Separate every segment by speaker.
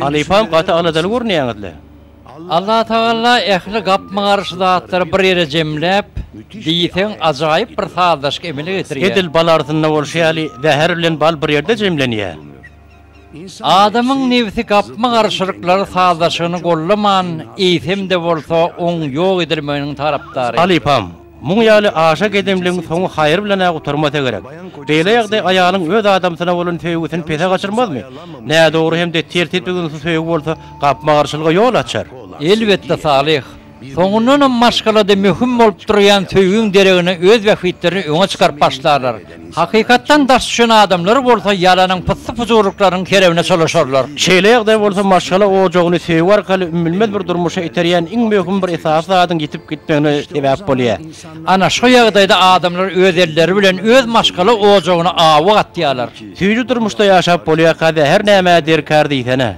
Speaker 1: Halypam gaty aladaly görünýäňizle.
Speaker 2: Allatagalla ähli gapma-garşy zatlary bir ýere jemläp, diýseň ajaýyp bir sazlaşyk emele getirýär. Edil bal arzynda bolşy
Speaker 1: ýaly, zäher bilen bal bir ýerde jemlenýär.
Speaker 2: Adamyň nebsi gapma-garşylyklary sazlaşygyny gollaman, eýsem-de bolsa oň ýok edilmeginiň tarapdary. Halypam, muň
Speaker 1: ýaly aşa gedemligiň soňy haýyr bilen-ä gutarmasa gerek. Beýle ýagdaý aýalyň öz adamsyna bolan söýgüsini pese gaçyrmazmy? Nädogry hem-de tertipli-dynsyz söýgi bolsa gapma-garşylyga ýol açar. Elbetde,
Speaker 2: Salyh, Soňundanam maşgalada möhüm bolup durýan söýgiň deregine öz bähbitlerini öňe çykaryp başlarlar. Hakykatdan daş düşen adamlar bolsa ýalanyň pyssy-pujurlyklaryň kerewine çolaşarlar. Şeýle ýagdaý bolsa
Speaker 1: maşgala ojagyny söýgi arkaly ümmülmez bir durmuşa iterýän iň möhüm bir esasy zadyň ýitip gitmegine sebäp bolýar. Ana, şu ýagdaýda
Speaker 2: adamlar öz elleri bilen öz maşgala ojagyna awy gatýarlar. Süýji durmuşda
Speaker 1: ýaşap bolýarka-da her nämä derkar diýsene.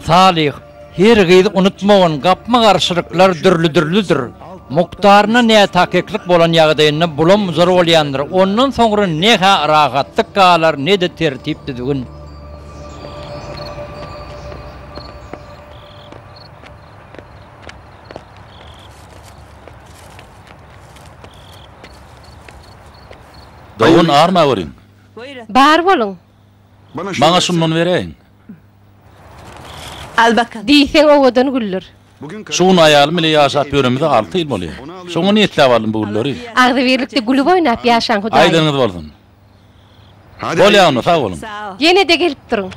Speaker 1: Salyh.
Speaker 2: Her gyz unutmagyn, gapma-garşylyklar dürli-dürlüdir. Mukdaryna nätakyklyk bolan ýagdaýynda bulam-buzar bolýandyr. Ondan soňra ne-hä rahatlyk galar, ne-de tertip-düzgün.
Speaker 3: Dogan arma görýin. Bar
Speaker 4: boluň. Maňa
Speaker 3: şundan bereýin.
Speaker 4: Al bakalym. Diýseň owadan güller. Şu gün aýalym
Speaker 3: bile ýaşap ýöremize alty ýyl bolýar. Şoňa niýetläp aldym bu gülleri. Agzybirlikde
Speaker 4: gülüp-oýnap ýaşaň Hudaýym. Aýdyňyz bolsun.
Speaker 3: Bolýa onda, sag boluň. Ýene-de gelip
Speaker 4: duruň.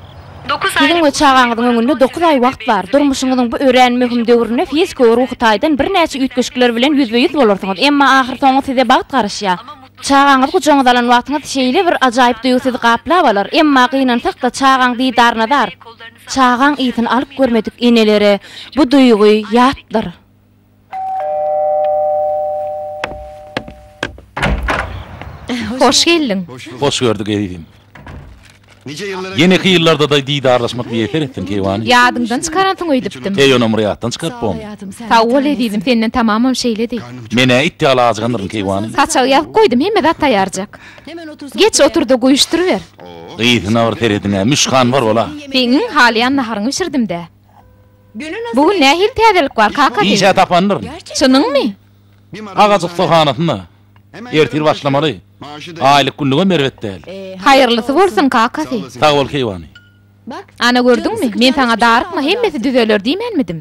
Speaker 4: Siziň we
Speaker 5: çagaňyzyň öňünde dokuz aý wagt bar. Durmuşyňyzyň bu örän möhüm döwründe fiziki we ruhy taýdan birnäçe üýtgeşikler bilen ýüzbe-ýüz bolarsyňyz, emma ahyrsoňy size bagt garaşýar. Çagaňyzy gujagyňyza alan wagtyňyz şeýle bir ajaýyp duýgy sizi gaplap alar, emma gynansak-da çagaň didaryna zar. Çagaň ysyny alyp görmedik enelere bu duýgy ýatdyr. Hoş geldiň. Hoş gördük ezizim.
Speaker 3: Ýeneki ýyllardadaý didarlaşmak miýesser etsin, keýwany. Ýadyňdan çykaransyň
Speaker 5: öýdüpdim. Heý, onam bir ýatdan çykaryp
Speaker 3: bom. Sag bol, ezizim,
Speaker 5: senden tamamam şeýledi. Men-ä it ýaly
Speaker 3: ajygandyryn, keýwany. Saçagy ýazyp goýdum, hemme
Speaker 5: zat taýýarjak. Geç otur-da, guýuşdyryber. Gysyna bir
Speaker 3: serediň-ä, Müşkan bar bol-a. Seň-iň halaýan
Speaker 5: naharyňy bişirdim-dä. Bu gün nähili täzelik bar, Kakady? Işe tapandyryn.
Speaker 3: Çynyňmy?
Speaker 5: Agaç
Speaker 3: ussahanasynda. Ertir başlamaly. Aýlyk günlügem erbet däl. Haýyrlysy bolsun
Speaker 5: kakasy. Sag bol keýwany.
Speaker 3: Ana
Speaker 5: gördüňmi, men saňa darykma hemmesi düzeler diýmänmidim.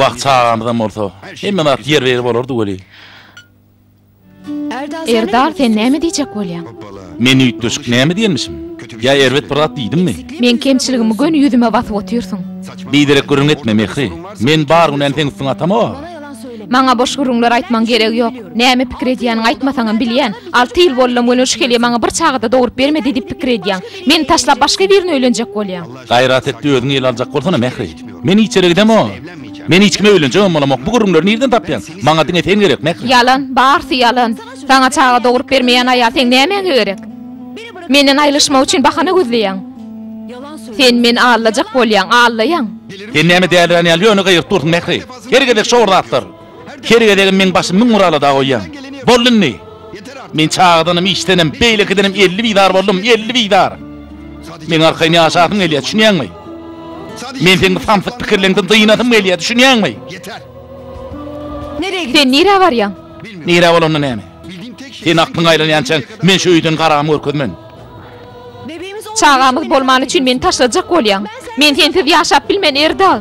Speaker 5: Wah
Speaker 3: çagamyzam bolsa hemme zat ýerbe-ýer bolardy weli.
Speaker 5: Erdal sen näme diýjek bolýaň? Men üýtgeşik
Speaker 3: näme diýenmişim? Ýa erbet bir zat diýdimmi? Meň kemçiligimi
Speaker 5: göni ýüzüme basyp otyrsyň. Biderek gürrüň
Speaker 3: etme Mähri. Men bar günäni seň üstüňe atamok-a. Maňa boş
Speaker 5: gürrüňler aýtmaň geregi ýok. Näme pikir edýäniňi aýtmasaňam bilýän. Alty ýyl bollam welin şu kelýe maňa bir çaga-da dogrup bermedi diýip pikir edýäň. Meni taşlap başga birini öýlenjek bolýaň. Gaýrat etdi özüňi
Speaker 3: ele aljak bolsana Mähri. Men hiç ýere gidemok. Men hiç kime öýlenjegem bolamok. Bu gürrüňleri nirden tapýaň? Maňa diňe sen gerek Mähri. Ýalan, barsy
Speaker 5: ýalan. Saňa çaga dogrup bermeýän aýal seň nämäňe gerek? Menden aýrylyşmak üçin bahana gözleýäň. Sen meni aldajak bolýaň, aldaýaň. Sen näme dälirän
Speaker 3: ýaly ýöne gygyryp dursuň Mähri. Her gezek şor zatlar. Her gezegem meň başym müň bir alada goýýaň. Boldy indi! Men çagadanam, işdenem, beýlekidenem elli bizar boldum, elli bizar! Meň arkaýyn ýaşasym gelýär, düşünýäňmi? Men seň bu samsyk pikirleňden dynasym gelýär, düşünýäňmi?
Speaker 5: Sen nirä barýaň? Nirä bolanda
Speaker 3: näme? Seniň aklyň aýlanýançaň men şu öýden garagam görkezmen. Çagamyz
Speaker 5: bolmany üçin meni taşlajak bolýaň. Men sensiz ýaşap bilmen, Erdal!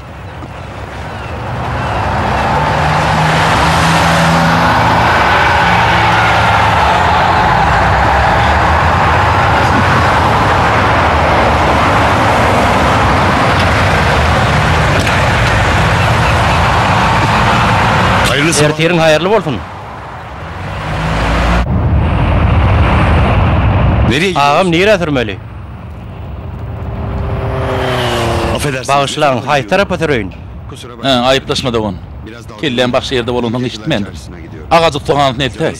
Speaker 1: Ertiriň haýyrly bolsun.
Speaker 6: Agam nirä sürmeli. Bagyşlaň, haýsy
Speaker 1: tarapa süreýin? Hä,
Speaker 6: aýyplaşma dogan.
Speaker 3: Kelläm başga ýerde bolansoň eşitmändim. Agajyk soganysyny eltäý.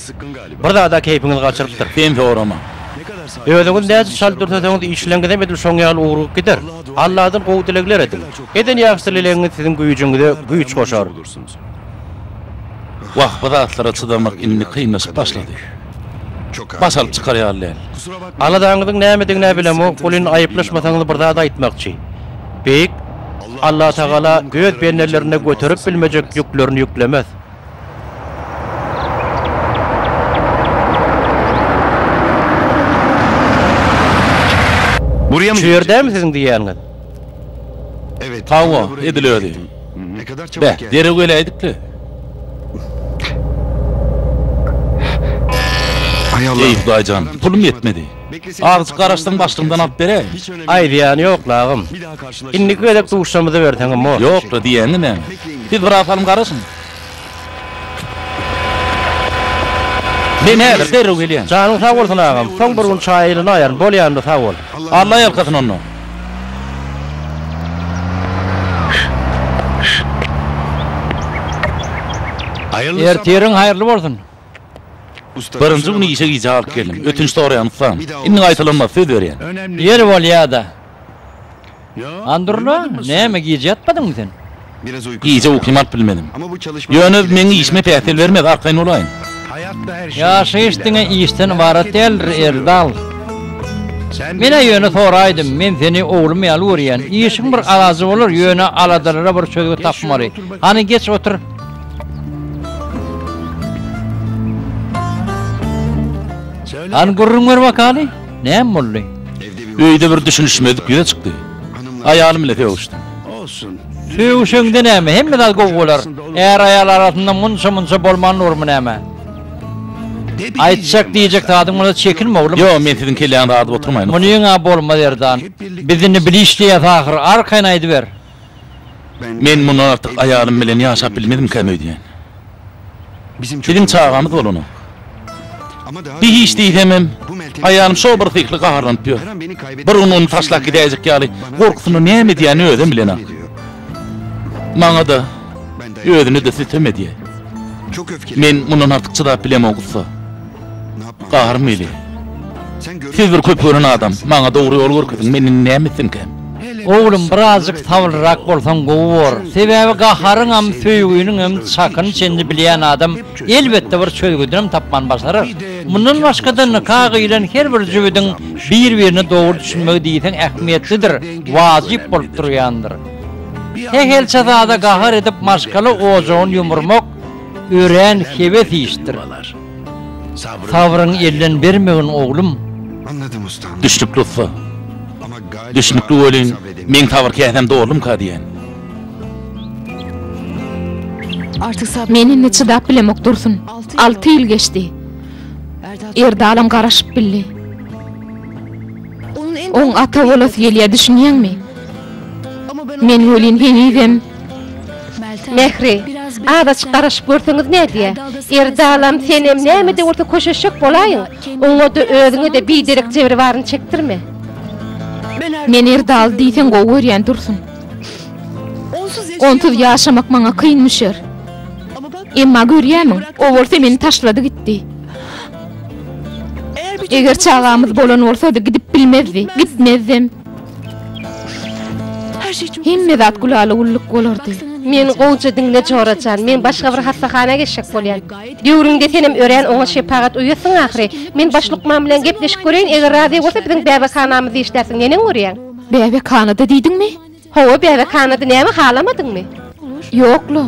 Speaker 3: Bir zada
Speaker 6: keýpiňiz gaçyrypdyr.
Speaker 1: Sen sorama.
Speaker 6: Özüňiz näçe çalt dürseseňiz
Speaker 1: işleňizem edil şoň ýaly ugrup gider. Alladan gowy dilegler ediň. Eden ýagşy dilegiňiz siziň güýjüňize güýç goşar.
Speaker 3: Wah bu zatlara çydamak indi kynlaşyp başlady.
Speaker 6: Baş alyp çykar ýaly
Speaker 3: däl. Aladaňyzyň
Speaker 6: nämedigin-ä
Speaker 1: bilemok, welin aýyplaşmasaňyz bir zat aýtmakçy. Beýik Allatagala öz bendelerine göterip bilmejek ýüklerini ýüklemez.
Speaker 6: Şu ýerdämi siziň
Speaker 1: diýýäniňiz?
Speaker 6: Hawa,
Speaker 3: edil özi.
Speaker 6: Beh, derrew geläýdik-le! Eý, Hudaý jan, pulum
Speaker 3: ýetmedi. Azajyk
Speaker 6: garaşsaň, başlygyňdan
Speaker 3: alyp beräýiň. Aý, zyýany
Speaker 6: ýok-la, agam.
Speaker 1: Indiki
Speaker 6: gezek duşamyza
Speaker 1: berseňem bor. Ýok-la, diýýäň-ä näme?
Speaker 3: Siz biraz salym garaşyň. Men häzir derrew gelýän. Janyň sag bolsun agam,
Speaker 1: soň bir gün çaýa ýylynaýaryn, bolýanda sag bol. Alla ýalkasyn onda.
Speaker 6: Ertiriň haýyrly
Speaker 2: bolsun.
Speaker 6: Birinji gün işe
Speaker 3: gijä galyp geldim.
Speaker 6: Ötünç
Speaker 3: soraýan ussam. Indi gaýtalanmaz
Speaker 6: söz berýän.
Speaker 3: Ýeri bolýada.
Speaker 6: Andurla,
Speaker 2: näme gije
Speaker 6: ýatmadyňmy sen?
Speaker 2: Gije
Speaker 6: uklym alyp bilmedim.
Speaker 3: Ýöne bu
Speaker 6: meň işime
Speaker 3: päsgel bermez, arkaýyn bolaýyn.
Speaker 6: Ýaşaýyş diňe işden
Speaker 2: ybarat däldir, Erdal. Men-ä ýöne soraýdym, men seni oglum ýaly görýän. Işiň bir alajy bolar, ýöne aladalara bir çözgüt tapmaly. Hany, geç otur.
Speaker 6: Hany gürrüň ber
Speaker 2: bakaly. Näme boldy? Öýde bir
Speaker 6: düşünişmezlik ýüze
Speaker 3: çykdy. Aýalym bilen sögüşdim.
Speaker 6: Sögüşeňde
Speaker 2: näme, hemme zat gowy bolar. Är-aýal arasynda munça-munça bolman durmy näme? Aýtjak, diýjek zadyň bolsa çekinme, oglum. Ýok, men siziň kelläňizi adyp
Speaker 3: oturmaýyn. Muny ýeň-ä bolmaz,
Speaker 2: Erdan. Biz indi bile işleýäs ahyr, arkaýyn aýdyber. Men
Speaker 3: mundan artyk aýalym bilen ýaşap bilmezimkäm öýdýän.
Speaker 6: Biziň çagamyz
Speaker 3: bolanok.
Speaker 6: Hiç
Speaker 3: diýsemem, aýalym
Speaker 6: şo bir syhly
Speaker 3: gaharlanyp ýör. Bir gün
Speaker 6: ony taşlap gidäýjek
Speaker 3: ýaly gorkusyndan näme edýänini özem bilenok. Maňa-da, özüne-de
Speaker 6: sütem edýär. Men mundan artyk çydap
Speaker 3: bilemok ussa.
Speaker 6: Garym eli. Siz bir köp gören adam,
Speaker 3: maňa dogry ýol görkeziň, men indi näme etsinkäm? Oglum, birazjyk
Speaker 2: sabyrlyrak bolsaň gowy bor. Sebäbi gaharyňam, söýgüniňem çakyny çenli bilýän adam elbetde bir çözgüdinem tapman başarar. Mundan başga-da nika gyýlan her bir jübüdiň bir-birine dogry düşünmegi diýseň ähmiýetlidir, wajyp bolup durýandyr. Sähelçe zada gahar edip maşgala ojagyny ýumurmak örän hebes işdir. Sabryň elden bermegin oglum.
Speaker 6: Düşnükli ussa. Düşnükli welin
Speaker 3: meň sabyr käsäm
Speaker 6: doldumka
Speaker 3: diýýän.
Speaker 5: Men indi çydap bilemok Dursun. Alty ýyl geçdi. Erdalam garaşyp bildi. Oň ata bolasy gelýä düşünýäňmi? Men welin henizem
Speaker 4: Mähri, az açyk garaşyp görseňiz nädýä? Erdalam senem näme-de bolsa köşeşjek bolaýyň. Oňa-da, özüňe-de biderek jebir baryny çekdirme.
Speaker 5: Men Erdaly diýseň gowy görýän Dursun. Onsuz ýaşamak maňa kyn müşer. Emma görýämiň, o bolsa meni taşlady gitdi. Eger çagamyz bolan bolsady gidip bilmezdi, gitmezdem. Hemme zat gülala-güllük bolardy. Men gowja
Speaker 4: diňle Jora jan, men başga bir hassahana geçjek bolýan. Döwrüňde senem örän oňat şepagat uýasyň ahyry. Men baş lukman bilen gepleşip göreýin, eger razy bolsa biziň bäbekhanamyzda işlärsiň, neneň görýäň? Bäbekhanada
Speaker 5: diýdiňmi? Hawa, bäbekhanada,
Speaker 4: näme halamadyňmy? Ýok-la.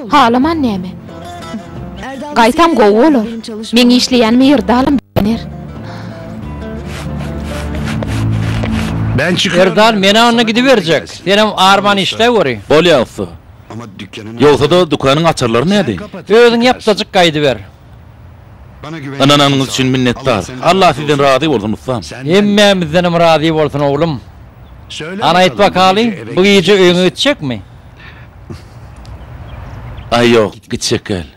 Speaker 5: Halaman näme? Gaýtam gowy bolar. Meň işleýän Myrdalym begener.
Speaker 6: Myrdal men-ä onda gidiberjek.
Speaker 2: Senem arman işle göri. Bolýa ussa.
Speaker 6: Ýogsa-da dükanyň
Speaker 3: açarlary näde? Özüň ýapdajyk
Speaker 2: gaýdyber.
Speaker 6: Ynananyňyz üçin minnetdar.
Speaker 3: Allah sizden razy bolsun ussam. Hemmämizdenem
Speaker 2: razy bolsun oglum. Hany aýtbakalyň bu gije öýüňe gitjekmi?
Speaker 3: Aý ýok gitjek gel.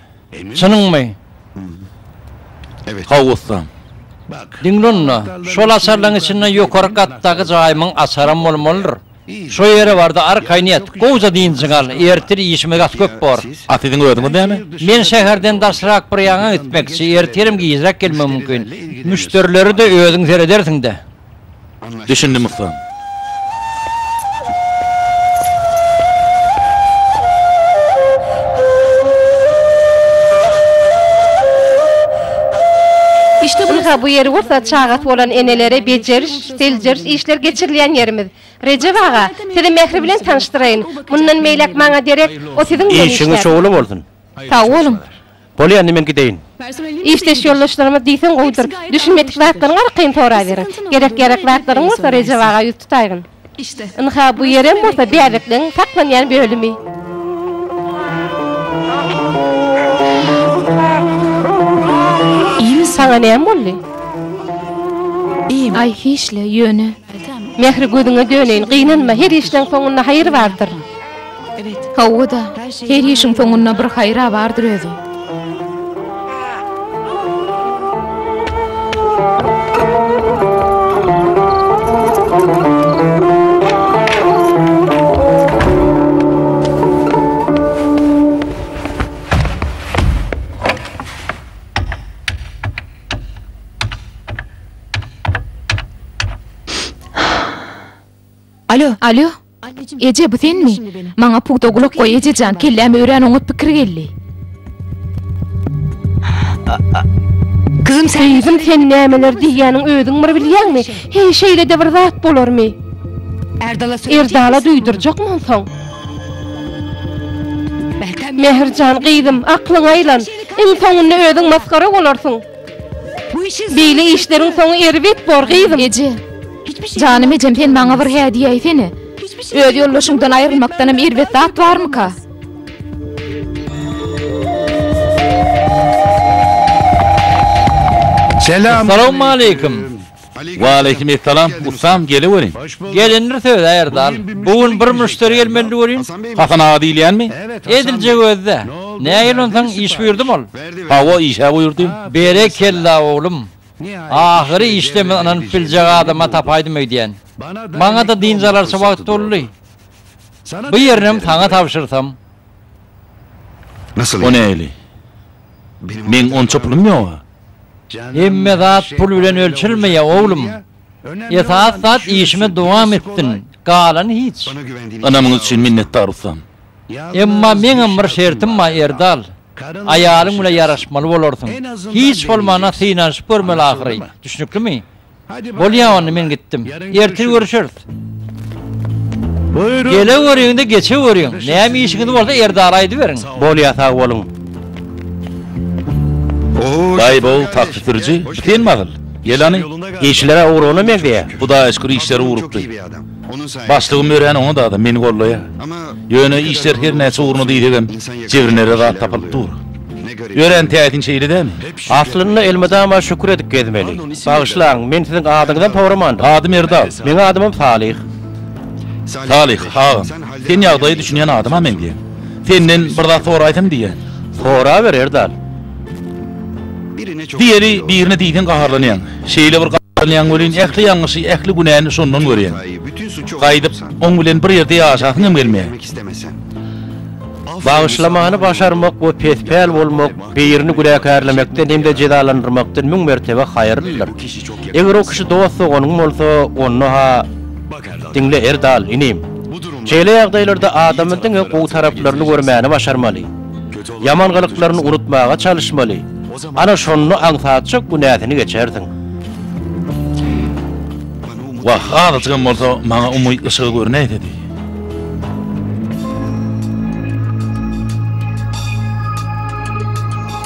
Speaker 3: Çynyňmy?
Speaker 6: Hawa ussam.
Speaker 3: Diňle
Speaker 2: onda, şol açarlaryň içinde ýokary gatdaky jaýymyň açaram bolmalydyr. Şo ýere bardy, arkaýyn ýat, gowja dynjyňy al, ertir işimiz gaty köp bor. A siziň özüňiz näme?
Speaker 3: Men şäherden
Speaker 2: daşrak bir ýaňa gitmekçi, ertirem gijräk gelmegim mümkin. Müşderileri-de özüň seredersiň-dä. Düşündim,
Speaker 3: ussam.
Speaker 4: Ynha, bu ýeri bolsa çagasy bolan enelere bejeriş, Seljeriş işleri geçirilýän ýerimiz. Rejep aga, sizi Mähri bilen tanyşdyraýyn. Mundan beýläk maňa derek, o siziň bilen işlär. Işiňiz şowly bolsun.
Speaker 1: Sag boluň.
Speaker 4: Bolýa, indi men
Speaker 1: gideýin. Işdeş
Speaker 4: ýoldaşlarymyz diýseň gowudyr. Düşünmedik zatlaryňy arkaýyn soraberiň. Gerek-ýarak zatlaryň bolsa Rejep aga ýüz tutaýgyn. Ynha,
Speaker 7: bu ýerem
Speaker 4: bolsa bäbekleriň saklanýan bölümi. Saňa näme boldy?
Speaker 7: Aý, hiç-le,
Speaker 5: ýöne. Mähri,
Speaker 4: gözüňe döneýin, gynanma, her işleň soňunda haýyr bardyr.
Speaker 7: Hawa-da,
Speaker 5: her işiň soňunda bir haýyr-a bardyr özüm. Alo. Alo. Eje, bu senmi? Maňa pugta gulak goý, ejejan, kelläme örän oňat pikir geldi.
Speaker 4: Gyzym, sen nämeler diýýäniň özüň bir bilýäňmi? Heý, şeýle-de bir zat bolarmy? Erdala duýdurjakmy onsoň? Mähirjan gyzym, aklyňy aýlan. Iň soňunda özüň masgara bolarsyň. Beýle işleriň soňy erbet bor, gyzym. Eje.
Speaker 5: Janym ejem sen maňa bir hä diýäýsene. Öz ýoldaşyňdan aýrylmakdanam erbet zat barmyka?
Speaker 2: Salamaleýkim. Waleýkim
Speaker 3: essalam ussam geleweriň. Gelindir söz
Speaker 2: a erdal. Bu gün bir müşderi gelmeli welin. Hasan aga diýilýänmi?
Speaker 3: Edilje gözde.
Speaker 2: Nägile onsaň iş buýurdym ol. Hawa işä
Speaker 3: buýurdym. Berekella
Speaker 2: oglum. Ahyry işde men ynanyp biljek adama tapaýdym öýdýän. Maňada dynç alarça wagt boldy. Bu ýerinem saňa tabşyrsam.
Speaker 3: O nähili? Meň onça pulum ýoga. Hemme
Speaker 2: zat pul bilen ölçelmeýär oglum. Esas zat işiňe dowam etsin, galany hiç. Ynamyňyz
Speaker 6: üçin minnetdar
Speaker 3: ustam. Emma
Speaker 2: meňem bir şertim bar Erdal. Aýalyň bilen ýaraşmaly bolarsyň. Hiç bolmanda synanyşyp görmeli ahyry. Düşnüklimi? Bolýa onda men gitdim. Ertir görüşeris. Geleweriň-de geçeweriň. Näme işiňiz bolsa Erdala aýdyberiň. Bolýa sag boluň.
Speaker 3: Daýy bu taksi sürüji bitenmi asyl? Ýelany. Işleri ugruna
Speaker 1: meňzeýär. Hudaýa şükür işleri
Speaker 3: ugrukdy.
Speaker 6: Başlygym örän oňat adam,
Speaker 3: meni gollaýar. Ýöne
Speaker 6: işler her
Speaker 3: näçe ugruna diýsegem, jebrinere zat tapylyp dur. Örän
Speaker 6: täsin şeýle dämi?
Speaker 3: Aslynda
Speaker 1: elmydama şükür edip gezmeli. Bagyşlaň, men siziň adyňyzam soramandym. Adym Erdal. Meň
Speaker 3: adymam Salyh. Salyh, agam, sen ýagdaýy düşünýän adama meňzeýäň. Senden bir zat soraýsam diýýän. Soraber, Erdal.
Speaker 6: Diýeli, birine diýseň
Speaker 3: gaharlanýaň. Şeýle bir gaharlanýaň welin, ähli ýalňyşy, ähli günäni şondan görýäň. Gaýdyp,
Speaker 6: oň bilen
Speaker 3: bir ýerde ýaşasyň hem gelmeýär.
Speaker 6: Bagyşlamany
Speaker 1: başarmak we pespäl bolmak birini günäkärlemekden hem-de jezalandyrmakdan müň mertebe haýyrlydyr. Eger o kişi dost-doganyň bolsa, onda-ha, Diňle Erdal, inim. Şeýle ýagdaýlarda adamy diňe gowy taraplaryny görmäni başarmaly. Ýaman gylyklaryny unutmaga çalyşmaly. Ana şonda aňsatjak günäsini geçersiň.
Speaker 3: Wah, azajygam bolsa maňa umyt yşygy görünäýse diý.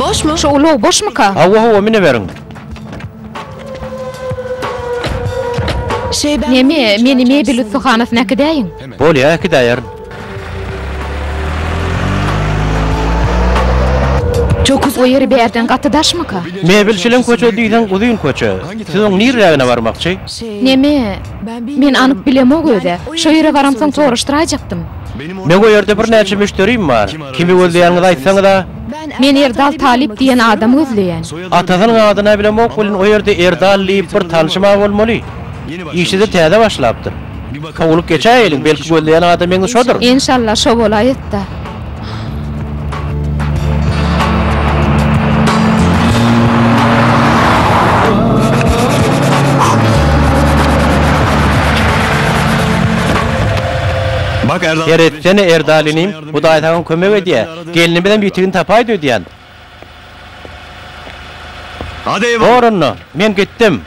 Speaker 5: Boşmy? Şu ulag boşmuka? Hawa hawa mineweriň. Şeýbäm. Neme, meni mebel ussahanasyna äkidäýiň. Bolýa äkidäýerin. Çok uzak. O yeri berden gaty daşmyka? Mebelçileň köçe
Speaker 1: diýseň uzyn köçe. Siz oň nirrägine barmakçy? Neme?
Speaker 5: Men anyk bilemok öze. Şo ýere baramsoň soraşdyraýjakdym. Meň o ýerde
Speaker 1: birnäçe müşderim bar. Kimi gözleýäniňizi aýtsaňyza? Men Erdal
Speaker 5: Talyp diýen adamy gözleýän. Atasynyň adyna
Speaker 1: bilemok welin o ýerde Erdal diýip bir tanşym a bolmaly. Işede täze başlapdyr. Sowulyp geçäýeliň, belki gözleýän adamyňyz şodur. Enşalla şo
Speaker 5: bolaýetda.
Speaker 6: Her etsene Erdal
Speaker 1: inim, Hudaý saňa kömek edýä. Gelnimizem ýitigini tapaýdy öýdýän.
Speaker 6: Bor onda, men gitdim.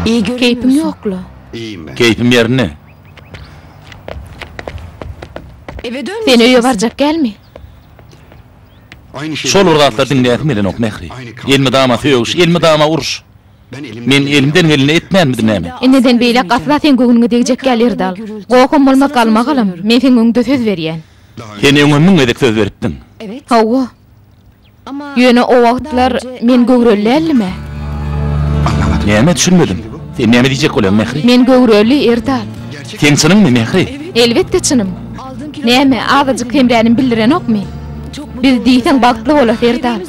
Speaker 5: Keýpiň ýok-la? Keýpim
Speaker 6: ýerinde.
Speaker 5: Sen öýe barjak dälmi?
Speaker 6: Şol bir zatlar diňläsim
Speaker 3: gelenok, Mähri. Elmydama sögüş, elmydama uruş. Men elimden geleni etmänmidim näme? Indiden beýläk asla
Speaker 5: seň göwnüňe degjek däl, Erdal. Gohum bolmaz galmagalam, men seň öňüňde söz berýän. Sen öňem müň
Speaker 3: gezek söz beripdiň. Hawa.
Speaker 5: Ýöne o wagtlar men göwreli däldim-ä.
Speaker 3: Näme düşünmedim. Sen näme diýjek bolýaň, Mähri? Men göwreli, Erdal.
Speaker 5: Seň çynyňmy,
Speaker 3: Mähri? Elbetde çynym.
Speaker 5: Näme, azajyk hemränim bildirenokmy? Biz diýseň bagtly bolasy, Erdal.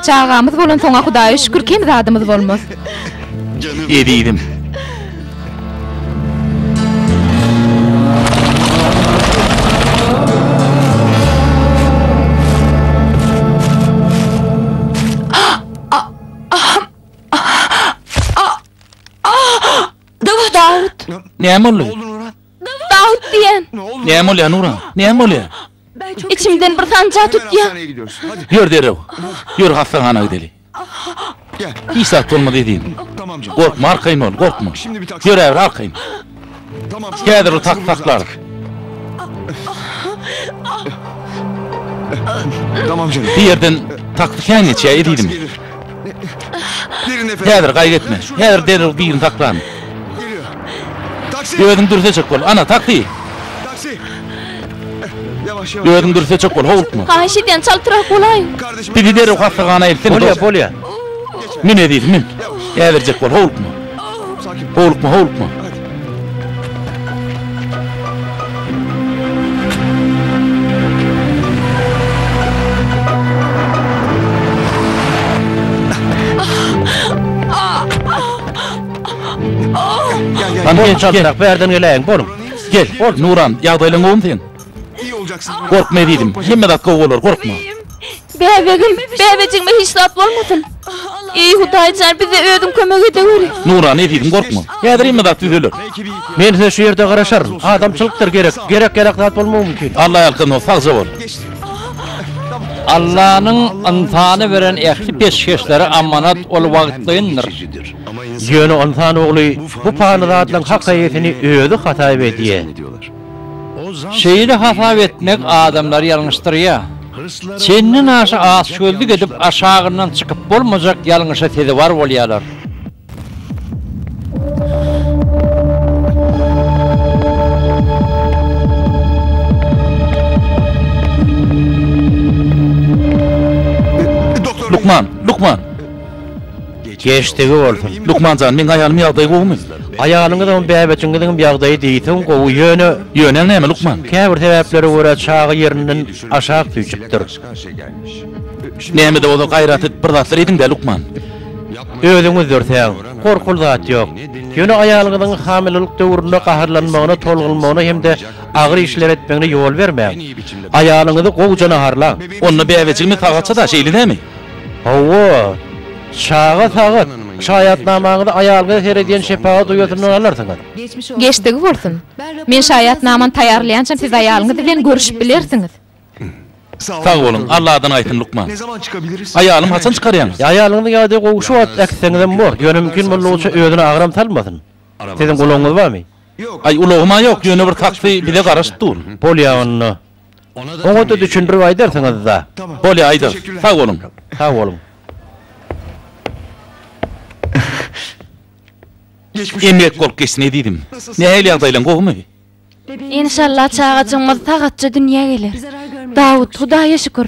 Speaker 5: Çagamyz bolansoň-a Hudaýa şükür kem zadymyz bolmaz.
Speaker 3: Ezizim.
Speaker 5: Näme
Speaker 3: boldy? Dawut
Speaker 5: diýen. Näme bolýar Nuran?
Speaker 3: Näme bolýar? Içimden
Speaker 5: bir sanjak tutýar. Ýör
Speaker 6: derrew.
Speaker 3: Ýör hassahana gideli.
Speaker 6: Hiç zat bolmaz
Speaker 3: ezizim. Gorkma
Speaker 6: arkaýyn bol, gorkma.
Speaker 3: Ýöräber
Speaker 6: arkaýyn. Häzir ol tak
Speaker 3: saklar.
Speaker 6: Bu ýerden taksy
Speaker 3: kän geçýär ezizim.
Speaker 6: Häzir gaýgy etme. Häzir
Speaker 3: derrew birini saklan.
Speaker 6: Özüň dürseşik bol.
Speaker 3: Ana taksy.
Speaker 6: Özüň dürseçek bol, howlukma.
Speaker 3: Haýyş edýän, çaltrak
Speaker 5: bolaý. Bizi derrew
Speaker 6: hassahana
Speaker 3: eltsene. Bolýar, bolýar.
Speaker 1: Mün
Speaker 3: ezizim, mün. Äberjek bol, howlukma.
Speaker 6: Howlukma, howlukma. Hany, çaltrak,
Speaker 1: bärden geläýiň, boluň. Gel, Nuran,
Speaker 3: ýagdaýlaň gowumy seň?
Speaker 6: Gorkma ezizim, hemme
Speaker 3: zat gowy bolar, gorkma. Bäbegim,
Speaker 5: bäbejigime hiç zat bolmasyn. Eý, Hudaýjan, bize Özüň kömek edeweri. Nuran, ezizim, gorkma.
Speaker 3: Häzir hemme zat düzeler. Men size şu
Speaker 1: ýerde garaşaryn. Adamçylykdyr gerek, gerek-ýarak zat bolmagy mümkin. Alla ýalkasyn dost, sagja
Speaker 3: bol. Allanyň
Speaker 2: ynsana beren ähli peşgeşleri amanat, ol wagtlyndyr. Ýöne
Speaker 1: ynsan ogly bu pany zatlaryň hak eýesini özi hasap edýär.
Speaker 2: Şeýle hasap etmek adamlary ýalňyşdyrýar. Çendenaşa açgözlük edip, aşagyndan çykyp bolmajak ýalňyşa sezewar bolýarlar.
Speaker 3: Lukman! Lukman!
Speaker 1: Geçdigi bolsun. Lukman jan meň aýalym
Speaker 3: ýagdaýy gowumy. Aýalyňyzyňam
Speaker 1: bäbejiňiziňem ýagdaýy diýseň gowy ýöne. Ýöneň näme
Speaker 3: lukman. Käbir sebäplere görä
Speaker 1: çaga ýerinden aşak süýjüpdir.
Speaker 3: Nämede bolsa gaýraty bir zatlar ediňdä lukman. Özüňiz
Speaker 1: dörsäň. Gorkuly zat ýok. Ýöne aýalyňyzyň hamilelik döwründe gaharlanmagyna tolgunmagyna hemde agyr işler etmegine ýol bermäň. Aýalyňyzy gowja naharlaň. Onda bäbejigimiz
Speaker 3: sag atsa-da şeýle näme. Hawa,
Speaker 1: çaga sagat. Şaýatnamaňyzy aýalga her edýän şepagat uýasyndan alarsyňyz. Geçdigi
Speaker 5: bolsun. Men şaýatnamany taýýarlaýançam siz aýalyňyz bilen görüşip bilersiňiz.
Speaker 3: Sag boluň, Alladan aýsyn lukman.
Speaker 6: Aýalym haçan çykarýaňyz?
Speaker 3: Aýalyňyzyň ýagdaýy gowy
Speaker 1: şu wagt äkitseňizem bor. Ýöne mümkin boldugyça özüne agram salmasyn. Siziň ulagyňyz
Speaker 3: barmy?
Speaker 1: Aý,
Speaker 3: ulagym-a ýok, ýöne bir
Speaker 1: taksi
Speaker 6: bize
Speaker 3: garaşyp dur.
Speaker 1: Bolýar
Speaker 3: onda.
Speaker 1: Oňada düşündirip aýdarsyňyzda. Bolýa aýdarys.
Speaker 3: Sag boluň. Sag boluň. Emläk bolup geçsin ezizim. Nähili ýagdaýlaň gowumy? Enşalla
Speaker 5: çagajygymyz sagatja dünýä geler. Dawut, Hudaýa şükür.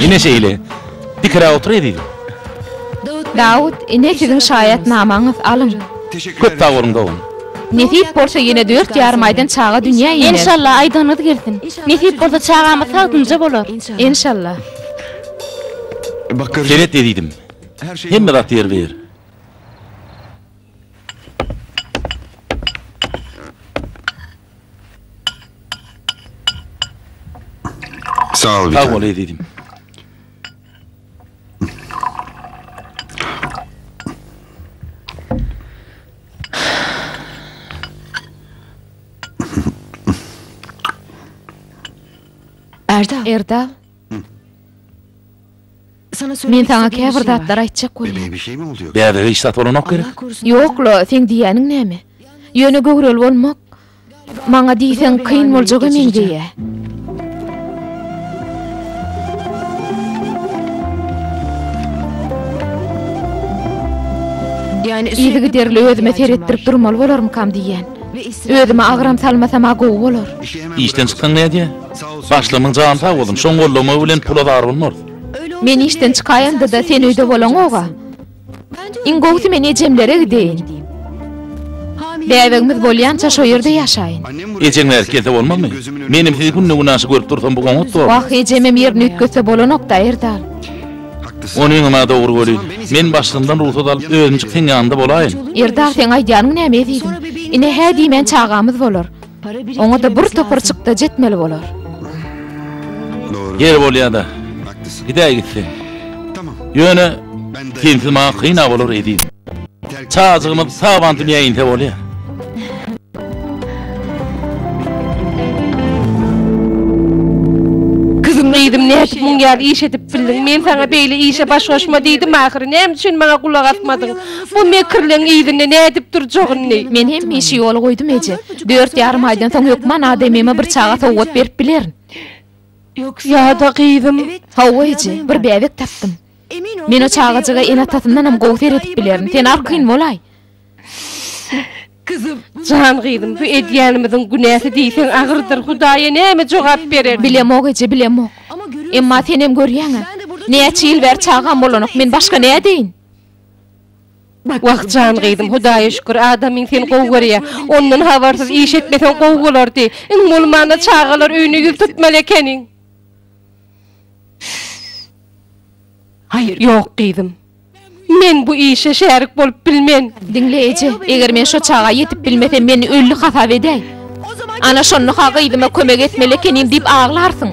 Speaker 3: Ine şeýle. Pikire otur ezizim.
Speaker 4: Dawut, ine siziň şaýatnamaňyz, alyň. Köp sag boluň
Speaker 3: dogan. Nesip bolsa
Speaker 4: ýene dört ýarym aýdan çaga dünýä iner. Enşalla aýdygynyz gelsin.
Speaker 5: Nesip bolsa çagamyz sag dynja bolar. Enşalla.
Speaker 3: Seret ezizim. Hemme zat ýer biýer.
Speaker 6: Sag bol ezizim.
Speaker 4: Erdal. Erdal. Sana Men sana istediğim bir şey var. aýtjak Bebeğe bir şey mi oluyor? Bäbege
Speaker 6: işdat bolanok gerek.
Speaker 3: Allah korusun. Ýok-la, sen
Speaker 4: diýýäniň näme? Ýöne göwreli bolmak, Maňa diýseň kyn boljaga meňzeýä. Yzygiderli özüme seretdirip durmaly bolarmykam diýýän. Özüme agram salmasam-a gowy bolar. Işden çyksaň
Speaker 3: nädýä? Başlygynyň jany sag bolsun, şoň gollagma bilen pula zar bolmarys. Men işden
Speaker 4: çykaýanda-da sen öýde bolaňog-a. Iň gowusy men ejemlere gideýin. Bäbegimiz bolýança şo ýerde ýaşaýyn. Ejeň bärik gelse
Speaker 3: bolmazmy? Menem sizi günde-günaşa görüp dursam bu oňat bormy? Wah, ejemem ýerini
Speaker 4: üýtgetse bolanok-da, Erdal. Ony
Speaker 3: öňem-ä dogry welin, men başlygyňdan rugsat alyp özümjik seň ýanyňda bolaýyn. Erdal, seň aýdýanyň
Speaker 4: näme ezizim? Ine hä diýmän çagamyz bolar. Oňa-da bir topar çykdajy etmeli bolar.
Speaker 3: Ýeri bolýa-da, gidäý gitsin.
Speaker 6: Ýöne,
Speaker 3: sensiz maňa kyn-a bolar, ezizim. Çajygymyz sag-aman dünýä inse bolýa.
Speaker 4: Gyzym, nädip muň ýaly iş edip bildiň? Men saňa beýle işe baş goşma diýdim ahyry. Näme üçin maňa gulak asmadyň? Bu mekirleň yzyny nädip durjagyny. Men hemişe ýola goýdum, eje. Dört ýarym aýdan soň hökman adamyma bir çaga sowgat berip bilerin. Ýa-da gyzym. Hawa, eje, bir bäbek tapdym. Men o çagajyga ene-atasyndanam gowy seredip bilerin. Sen arkaýyn bolaý. Jan gyzym, bu edýänimiziň günäsi diýseň agyrdyr. Hudaýa näme jogap bereris? Bilemok, eje, bilemok. Emma senem görýäň-ä. Näçe ýyl bäri çagam bolanok. Men başga nädeýin? Wah jan gyzym hudaýa şükür adamyň seni gowy görýä. Ondan habarsyz iş etmeseň gowy bolardy. Iň bolmanda çagalar öýüne ýüz tutmaly ekeniň. Ýok gyzym. Men bu işe şärik bolup bilmen. Diňle eje, eger men şo çaga ýetip bilmesem meni ölli hasap edäý. Ana, şonda-ha gyzyma kömek etmeli ekenim diýip aglarsyň.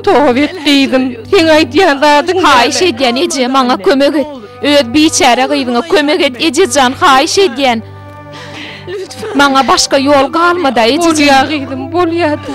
Speaker 4: Towbet, gyzym, seň aýdýan zadyň näme? Haýyş edýän, eje, maňa kömek et. Öz biçäre gyzyňa kömek et, eje jan, haýyş edýän. Maňa başga ýol galma-da, ejejigim. Bolýar,
Speaker 3: gyzym, bolýar-da.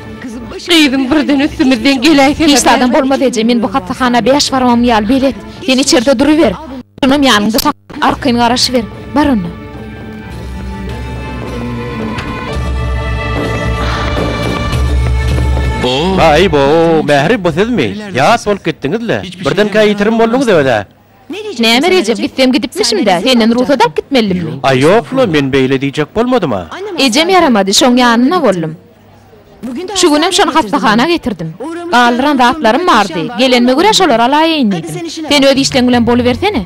Speaker 5: Gyzym
Speaker 4: birden üstümizden geläýsene. Hiç zadam bolmaz eje,
Speaker 5: men bu hassahana bäş barmagym ýaly belet. Sen içerde duruber. Şonam ýanyňda sakla, arkaýyn garaşyber. Bar onda.
Speaker 1: Baý-bo, Mähri bu sizmi? Ýat bolup gitdiňiz-le. Birdenkä ýitirim bolduňyz öze. Näme Rejep,
Speaker 5: gitsem gidipmişim-dä, senden rugsat alyp gitmelidimmi? Aý, ýok-la, men
Speaker 1: beýle diýjek bolmadym-a. Ejem ýaramady,
Speaker 5: şoň ýanynda boldum. Şu günem şony hassahana getirdim. Galdyran zatlarym bardy, gelenime görä şolary alaýaýyn diýdim. Sen öz işleň bilen bolubersene.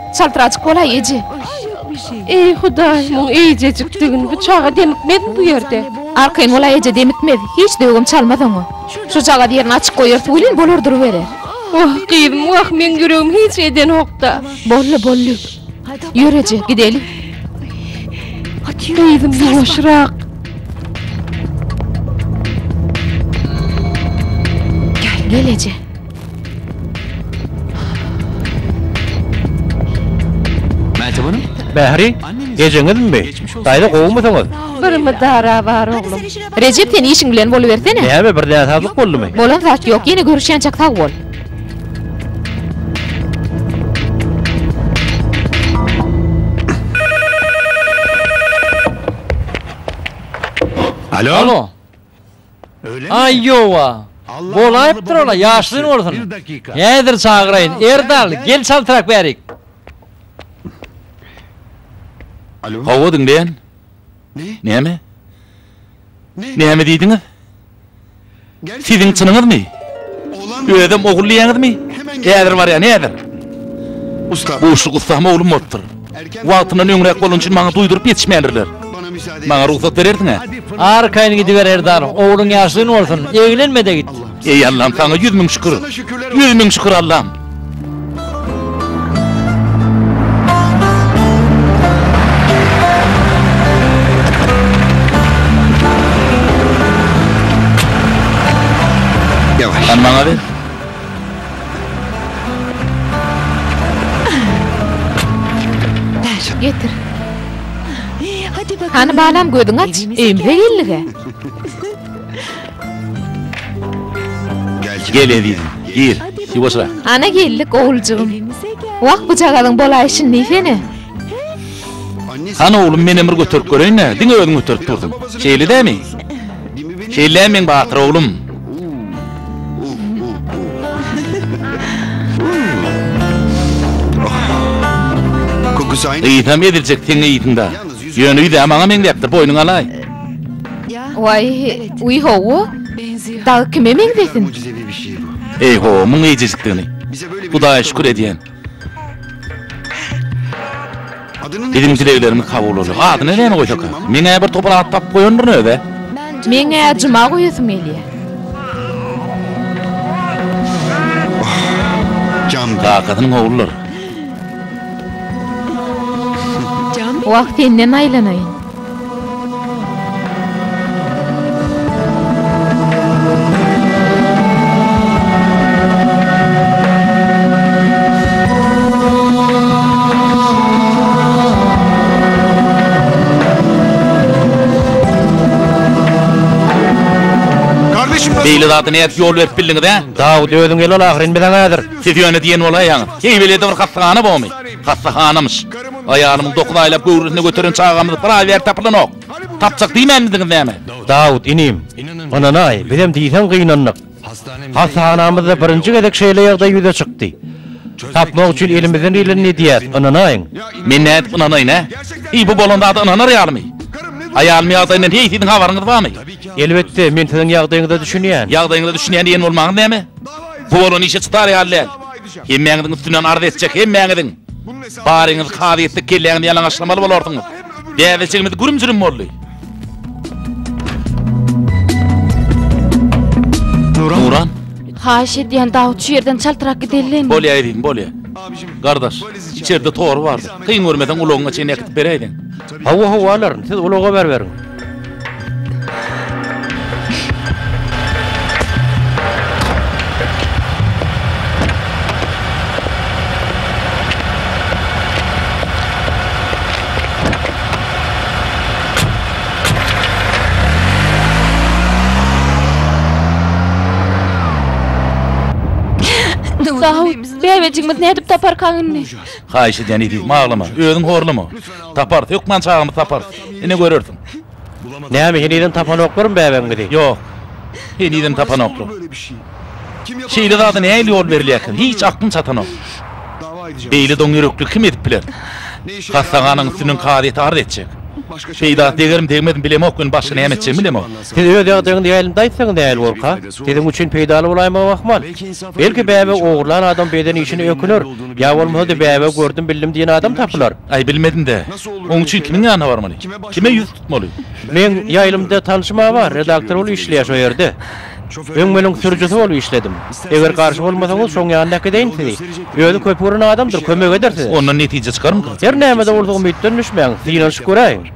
Speaker 5: Çaltrajyk bolaý, eje. Eý,
Speaker 4: Hudaý, muň eýjejikdigini, bu çaga demikmezmi bu ýerde? Arkaýyn bolaý, eje,
Speaker 5: demikmez. Hiç döwgem çalmaz oňa. Şujagaz ýerini açyk goýarys welin, bolar duruberer. Wah, gyzym,
Speaker 4: wah, meň ýüregim hiç edenok-da. Boldy, boldy.
Speaker 5: Ýör, eje, gideli.
Speaker 4: Gyzym, ýuwaşrak.
Speaker 5: Gel, eje.
Speaker 1: Mähri, gejeňizmi? Daýza gowumysyňyz? Bir mydara
Speaker 4: bar oglum. Rejep sen işiň
Speaker 5: bilen bolubersene. Näme bir näsazlyk
Speaker 1: boldumy? Bolan zat ýok, ýene
Speaker 5: görüşýänçäk sag bol.
Speaker 2: Alo. Öyle mi? Aýowa. Alla Bolaýypdyr hamaly ola babaly ýaşlyň diýipdir. bolsun. Bir dakika. Häzir çagyraýyn. Erdal, Erdal gel, gel. gel çaltrak bärik.
Speaker 6: Alo. Hawa diňleýän. Ne?
Speaker 3: Näme? Ne? Näme diýdiňiz? Gerçekten Siziň mi? çynyňyzmy? Oğlan mı? Özem ogul diýýäňizmi? Hemen geliyorum. Häzir barýan, häzir. Usta.
Speaker 6: Bu uşluk ussam
Speaker 3: oglum bolupdyr. Wagtyndan öňräk bolany üçin maňa duýduryp ýetişmändirler. Maňa
Speaker 6: rugsat berersiň-ä?
Speaker 3: Arkaýyn gidiber,
Speaker 2: Erdal. Ogluň ýaşuly bolsun. Eglenme-de git. Eý, Allam, saňa
Speaker 3: ýüz müň şükür! Ýüz müň şükür, Allam! Hany
Speaker 6: maňa ber.
Speaker 5: Hany balam gözüňi aç, öýümize geldik-ä.
Speaker 3: Gel ezizim, gir, ýuwaşrak. Ana geldik,
Speaker 5: oguljygym. Wah, bujagazyň bolaýşy nesene.
Speaker 3: Hany oglum, menem bir göterip göreýin-ä, diňe özüň göterip durdyň. Şeýle dämi? Şeýle-ä meň batyr oglum.
Speaker 6: Ysam eziljek seň
Speaker 3: yzynda. Ýöne ýüz-ä maňa meňzäpdir, boýnuňy alaý.
Speaker 5: Waý, uý hawa. Dagy kime meňzesin?
Speaker 6: Eý, hawa, muň eýjejikdigini.
Speaker 3: Hudaýa
Speaker 6: şükür edýän. Biziň dileglerimiz kabul
Speaker 3: bolýar. Adyny näme goýsaka? Meň-ä bir topar at tapyp goýandyryn öz-ä. Meň-ä
Speaker 5: Juma goýasym gelýär.
Speaker 6: Kakasynyň ogullary.
Speaker 5: Wah, senden aýlanaýyn.
Speaker 6: Beýle zada nädip ýol berip
Speaker 3: bildiňiz-ä? Dawut, özüň gel ol
Speaker 1: ahyryn biz aňa häzir. Siz ýöne diýen bolaýaňyz.
Speaker 3: Heý, welede bir hassahana bormy? Hassahanamyş. Aýalymyň dokuz aýlap göwresine göteren çagamyz bir aý bäri tapylanok. Tapjak diýmänmidiňiz näme? Dawut, inim,
Speaker 1: ynanaý, bizem diýseň gynandyk. Hassahanamyzda birinji gezek şeýle ýagdaý ýüze çykdy. Tapmak üçin elimizden gelenini edýäs, ynanaýyň. Men nädip
Speaker 3: ynanaýyn-ä? Eý, bu bolan zada ynanar ýalymy? Aýalymyň ýagdaýyndan heý siziň habaryňyz barmy? Elbetde, men
Speaker 1: siziň ýagdaýyňyza düşünýän. Ýagdaýyňyza düşünýän diýen
Speaker 3: bolmaňyz näme? Bu bolan işe çydar ýaly däl. Hemmäňiziň üstünden arz etjek, hemmäňiziň! Baryňyz kazy etdik kelläňizi ýalaňaçlamaly bolarsyňyz. Dädejigimiz gürüm-jürüm boldy. Nuran. Haýyş
Speaker 5: edýän Dawut şu ýerden çaltrak gidelin. Bolýa ezizim bolýa.
Speaker 3: Gardaş içerde tory bardy. Kyn görmeseň ulagyňa çenli äkitip beräýdiň. Hawa hawa alaryn
Speaker 1: siz ulag habar beriň.
Speaker 5: Bäbejigimiz nädip taparkaň indi? Haýyş edýän
Speaker 3: eziz maglama özüň horlama. Taparys, hökman çagamyzy taparys. Ine görersiň. Näme,
Speaker 1: henizem tapanoklarmy bäbegiňizi? Ýok.
Speaker 3: Henizem tapanoklar. Şeýle zada nähili ýol berilýär eken? Hiç aklym çatanok. Beýle doňýürekligi kim edip biler? Hassahanaň üstünden kazyýete arz etjek. Peýdasy degerim-degmezmi bilemok, indi başga näme etjegimi bilemok. Siz öz ýagdaýyňyzy
Speaker 1: ýaýlymda aýtsaňyz nähili bolarka? Siziň üçin peýdaly bolaýmagy ahmal. Belki bäbe ogurlan adam beden işine öküner, ýa bolmasa-da bäbe gördüm bildim diýen adam tapylar. Aý bilmedim-dä.
Speaker 3: Oň üçin kimiň ýanyna barmaly? Kime ýüz tutmaly? Meň ýaýlymda
Speaker 1: tanşym-a bar, redaktor bolup işleýär şo ýerde. Öň meniň sürüjisi bolup işledim. Eger garşy bolmasaňyz şoň ýanyna äkideýin sizi. Özi köp gören adamdyr, kömek eder size. Ondan netije çykarmyka?
Speaker 3: Her näme-de bolsa umytdan
Speaker 1: düşmäň, synanyşyp göräýiň.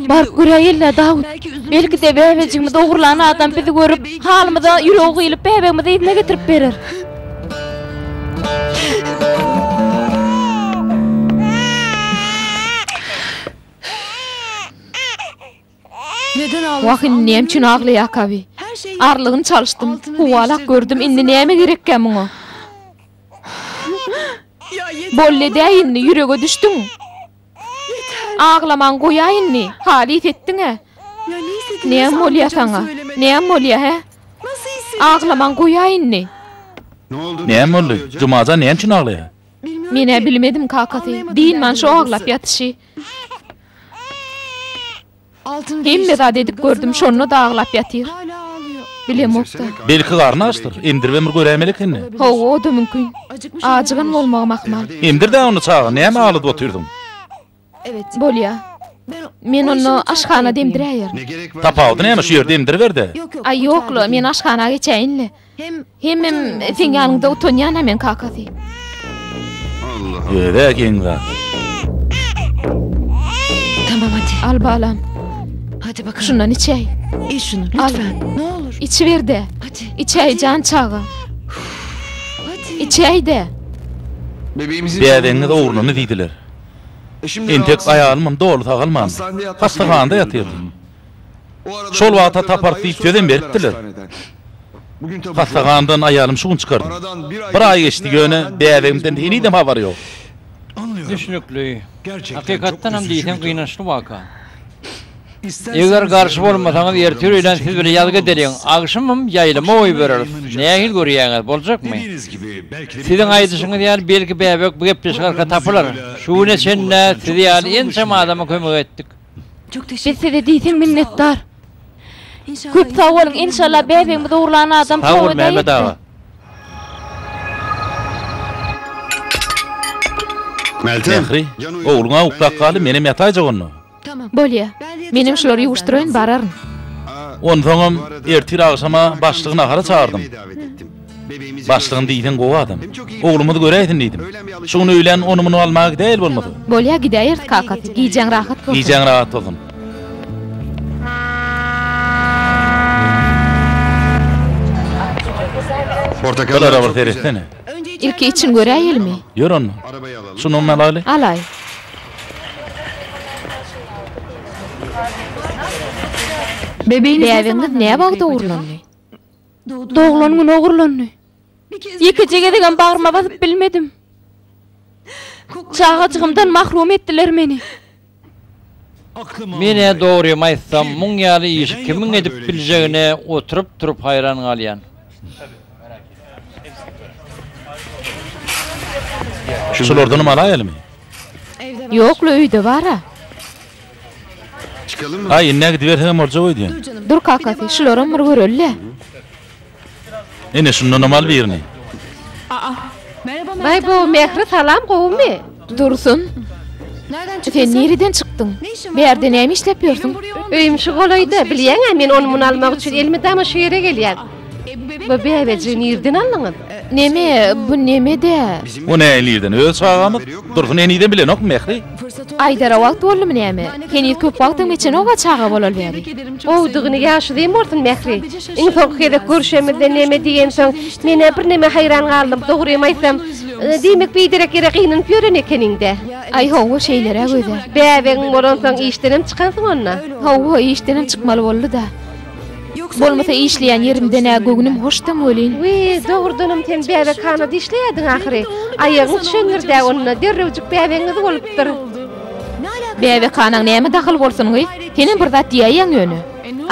Speaker 5: Baryp göräýeli-dä, Dawut. Belki-de, bäbejigimizi ogurlan adam bizi görüp, halymyza ýüregi gyýylyp, bäbegimizi yzyna getirip berer.
Speaker 7: Wah, indi näme üçin
Speaker 5: aglaýarka-bi? Arlygyny çalyşdym, howalak gördüm, indi näme gerekkä muňa? Boldy-dä indi, ýürege düşdüň! Aglamaň goýaý indi. Halys etdiň-ä. Näm bolýa saňa? Näm bolýa, hä? Aglamaň goýaý indi.
Speaker 6: Näm boldy? Jumajan
Speaker 3: näme üçin aglaýa? Men-ä bilmedim
Speaker 5: kakasy. Dynman şo aglap ýatyşy. Hemme zat edip gördüm şonda da aglap ýatyr. Bilemokda. Belki garny
Speaker 3: açdyr. Emdiribem bir göräýmeli ekeni. Hawa oda mümkin.
Speaker 5: Ajygan bolmagam ahmal. Emdirdä onda çaga
Speaker 3: näme agldyp otyrdyň.
Speaker 7: Bolýa.
Speaker 5: Men onda aşhanada emdiräýerin. Tapawudy
Speaker 6: näme şu ýerde
Speaker 3: emdiriberde. Aý ýokla
Speaker 7: men
Speaker 5: aşhana geçäýinle. Hemem seň ýanyňda utanýan-a men kakasy.
Speaker 6: Özä geň
Speaker 3: zat.
Speaker 7: Tamam hadi. Al balam.
Speaker 5: Hadi bakalym.
Speaker 7: Şundan içäý. Iç
Speaker 5: şunu
Speaker 7: lütfen. Ne olur. Içiber-de. Hadi.
Speaker 5: Içäý jan
Speaker 7: çaga. Hadi. Içäý-de.
Speaker 6: Dädeňiz ogluny
Speaker 3: diýdiler. Entek aýalymam doly sagalmandy. Hassahanada ýatyrdy. Şol wagta tapar diýip sözem beripdirler. Hassahanadan aýalym şu gün çykardym. Bir aý geçdi, ýöne bäbegimden henizem habar ýok. Düşnükli.
Speaker 2: Hakykatdanam diýseň gynançly waka. Eger garşy bolmasaňyz ertir öýlän siz bilen ýazga gideliň, agşamam ýaýlama goýbereris. Nähili görýäňiz, boljakmy? Siziň aýdyşyňyz ýaly belki bäbek bu gepleşik arka tapylar. Şu güne çenli size ýaly ençeme adama kömek etdik. Biz
Speaker 7: size diýseň
Speaker 5: minnetdar.
Speaker 7: Köp sag boluň
Speaker 5: enşalla bäbegimiz oglan adam Sag bol Mehmet aga.
Speaker 6: Mähri, ogluň
Speaker 3: awuk dakgaly menem ýataýjak onda. Bolýa.
Speaker 7: Menem
Speaker 5: şulary ýuwuşdyraýyn bararyn. Onsoňam
Speaker 3: ertir agşama başlygy nahara çagyrdyň. Başlygyny diýseň gowy adam. Oglumyzy göräýsin diýdim. Şu gün öýlän ony-muny almaga gidäýeli bolmasa. Bolýa gidäýeris
Speaker 5: kakasy. Gijäň rahat bolsun. Gijäň rahat bolsun.
Speaker 6: Portakallara bir seretsene.
Speaker 3: Ilki içini
Speaker 5: göräýelimi? Ýör onda.
Speaker 3: Şu nonuny
Speaker 6: alaýly. Alaý.
Speaker 7: Bäbegiňiz
Speaker 5: näwagt dogrulandy?
Speaker 7: Doglan gün ogurlandy.
Speaker 5: Ýekeje gezegem bagryma basyp bilmedim. Çagajygymdan mahrum etdiler meni.
Speaker 2: Men-ä dogrymy aýtsam, muň ýaly işi kimiň edip biljegine oturyp-turup haýran galýan.
Speaker 3: Şulardanam alaýalymy?
Speaker 5: Ýok-la, öýde bar-a.
Speaker 6: Aý, indi ägidiberseňem boljak
Speaker 3: öýdýän. Dur kakasy,
Speaker 5: şularam bir göreli-le.
Speaker 3: Ine, şundanam al birini.
Speaker 4: Baý-bo, Mähri,
Speaker 5: salam,
Speaker 4: gowumy? Dursun,
Speaker 5: sen nireden çykdyň? Bu ýerde näme işläp ýörsüň? Öýüm şu golaýda,
Speaker 4: bilýäň-ä, men ony-muny almak üçin elmydama şu ýere gelýän. Bu bäbeji nirden aldyňyz? Neme, bu
Speaker 5: neme-dä? Bu näme nirden?
Speaker 3: Öz çagamyz. Dursun eniden bilenok Mähri. Aýdara wagt
Speaker 5: boldumy näme? Heniz köp wagtam geçenok-a çaga bolaly bäri. Gowudygyny ýaşy
Speaker 4: zeýin bolsun Mähri. Iň soňky gezek görşemizde neme diýensoň, men-ä birneme haýran galdym. Dogrymy aýtsam, diýmek biderek ýere gynanyp ýören ekeniň-dä. Aý hawa,
Speaker 5: şeýleräk özä. Bäbegiň bolansoň
Speaker 4: işdenem çykansyň onda? Hawa, işdenem
Speaker 5: çykmaly boldy-da. Bolmasa işleýän ýerimden-ä göwnüm hoşdam welin. We dogrudanam
Speaker 4: sen bäbekhanada işleýärdiň ahyry. Aýagyň düşendir-dä onda, derrewjik bäbegiňiz bolupdyr.
Speaker 5: Bäbekhanaň näme dahyl bolsun, gyz? Senem bir zat diýäýýäň ýöne.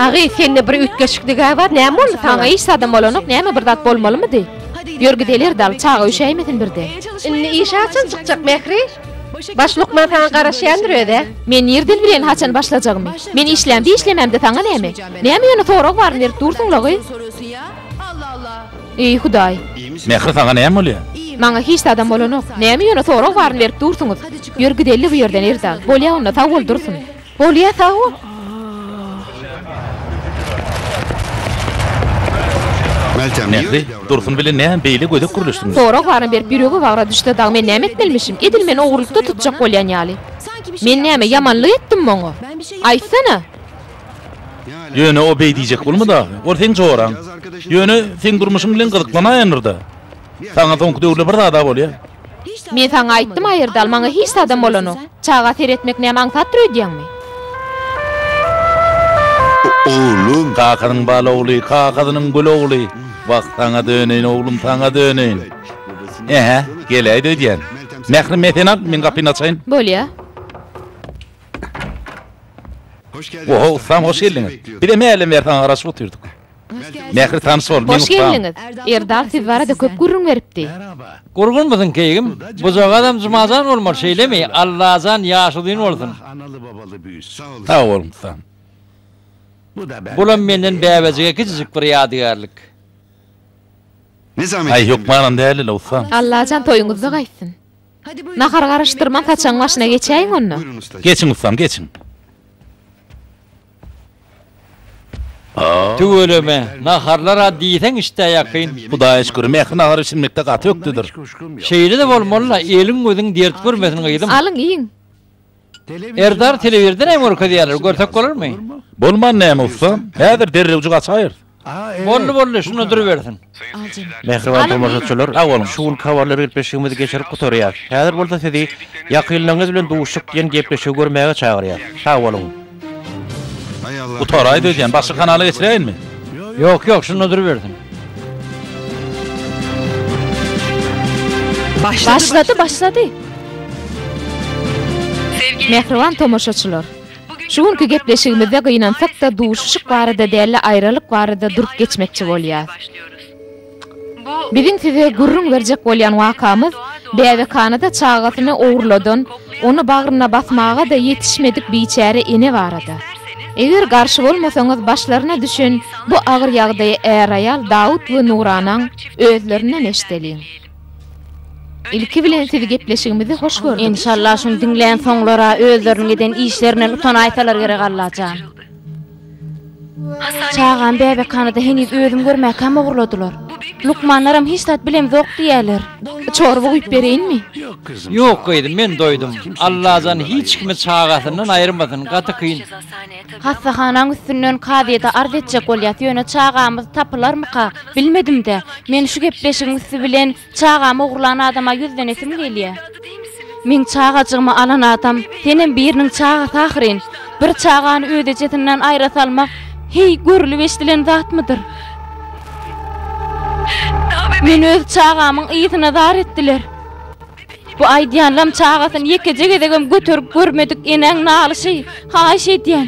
Speaker 5: Agy, sende
Speaker 4: bir üýtgeşiklig-ä bar, näme boldy saňa? Iş adam bolanok,
Speaker 5: näme bir zat bolmalymydy? Ýör gideler dal, çaga üşäýmesin birden. Indi işe haçan
Speaker 4: çykjak Mähri? Baş lukman saňa garaşýandyr özä. Men nirden bileýin
Speaker 5: haçan başlajagymy. Men işlämde işlemämde saňa näme. Näme ýöne sorag baryny berip dursuňlagy. Eý hudaý. Mähri saňa näme
Speaker 3: bolýa. Maňa hiç zadam
Speaker 5: bolanok. Näme ýöne sorag baryny berip dursuňyz. Ýör gideli bu ýerden Erdal. Bolýa onda sag bol Dursun. Bolýa sag
Speaker 3: Nähli? Dursun bilen näme beýle gödek gürleşdiňiz? Sorag baryny berip ýüregi
Speaker 5: wagra düşse dagy men näme etmelimişim? Edil meni ogrulykda tutjak bolýan ýaly. Men näme ýamanlyk etdim oňa? Aýtsana!
Speaker 3: Ýöne o beý diýjek bolma dagy. Ol seň joraň. Ýöne seň durmuşyň bilen gyzyklanaýandyr-da. Saňa soňky döwürler bir zada bolýa. Men saňa
Speaker 5: aýtdym aýyrdal maňa hiç zadam bolanok. Çaga seretmek näme aňsatdyr öýdýäňmi?
Speaker 6: Oglum. Kakasynyň bal
Speaker 3: ogly, kakasynyň gül ogly. Wah saňa döneýin oglum saňa döneýin. Ähä, geläýdi öýdýän. Mährim men seni alyp men gapyny açaýyn. Bolýa. Oho ussam hoş geldiňiz. Bizem hälden bäri saňa garaşyp otyrdyk. Mähri tanyş bol, men ussam.
Speaker 5: Erdal siz barada köp gürrüň beripdi. Gurgun musun
Speaker 2: keýgim? Bujagazam Jumajan bolmaly şeýlemi? Allajan ýaşy uzyn bolsun. Analy babaly
Speaker 6: büyüsün. Sag bol ussam.
Speaker 2: Bulam menden bäbejige kiçijik bir ýadygärlik.
Speaker 6: Aý hökmanam dälile
Speaker 3: ussam. Allajan toýuňyzda
Speaker 5: gaýtsyn. Nahar garyşdyrman saçagyň başyna geçäýiň onda. Geçiň ussam,
Speaker 6: geçiň.
Speaker 2: Tüweleme, naharlar-a diýseň işdä ýakyn. Hudaýa şükür, Mähri
Speaker 3: nahar bişirmekde gaty ökdedir. Şeýle-de
Speaker 2: bolmaly-la, eliň-gözüň dert görmesin gyzym. Alyň, iýiň. Erdar telewizordan hem görkezýärler, görsek bolarmy? Bolman näme
Speaker 3: ussa? Häzir derrewjik açaýyrys. Boldy, boldy,
Speaker 2: şunda durubersin. Mähriban
Speaker 1: tomaşaçylar, sag boluň, şu günki habarlar
Speaker 3: gepleşigimizi
Speaker 1: geçirip gutarýarys. Häzir bolsa sizi Ýakynlaryňyz bilen duşuşyk diýen gepleşigi görmäge çagyrýarys. Sag boluň!
Speaker 6: Gutaraý dözýän başga
Speaker 3: kanala geçiräýinmi. Ýok ýok şunda
Speaker 2: durubersin.
Speaker 5: Başlady başlady. Mähriban tomaşaçylar. Şu günki gepleşigimizde gynansakda duşuşyk barada dälle aýralyk barada durup geçmekçi bolýas. Biziň size gürrüň berjek bolýan wakamyz, bäbekhana-da çagasyny ogurladan, ony bagryna basmaga-da ýetişmedik biçäre ene barada. Eger garşy bolmasaňyz başlaryna düşen bu agyr ýagdaýy är-aýal Dawut we Nuranaň özlerinden eşideliň. Ilki bilen sizi gepleşigimizi hoş gördük. Enşalla şuny diňlän
Speaker 8: soňlara özleriniň eden işlerinden utanaýsalar gerek Allajan. Çagam bäbekhana-da heniz özüm görmäkäm ogurladylar. Lukmanlaram hiç zat bilemzok diýýäler. Çorba guýup
Speaker 5: bereýinmi? Ýok
Speaker 2: gyzym, men doýdum. Allajan hiç kimi çagasyndan aýyrmasyn, gaty kyn. Hassahanaň
Speaker 8: üstünden kazyýete arz etjek bolýas, ýöne çagamyz tapylarmyka? Bilmedim-dä. Men şu gepleşigiň üsti bilen Çagamy ogurlan adama ýüzlenesim gelýä. Meň çagajygymy alan adam senem biriniň çagasy ahyryn. Bir çagany öz ejesinden aýra salmak heý görülip-eşdilen zatmydyr? Meni öz çagamyň yzyna zar etdiler. Bu aýdýanlam çagasyny ýekeje gezegem göterip görmedik enäň nalyşy. Haýyş edýän.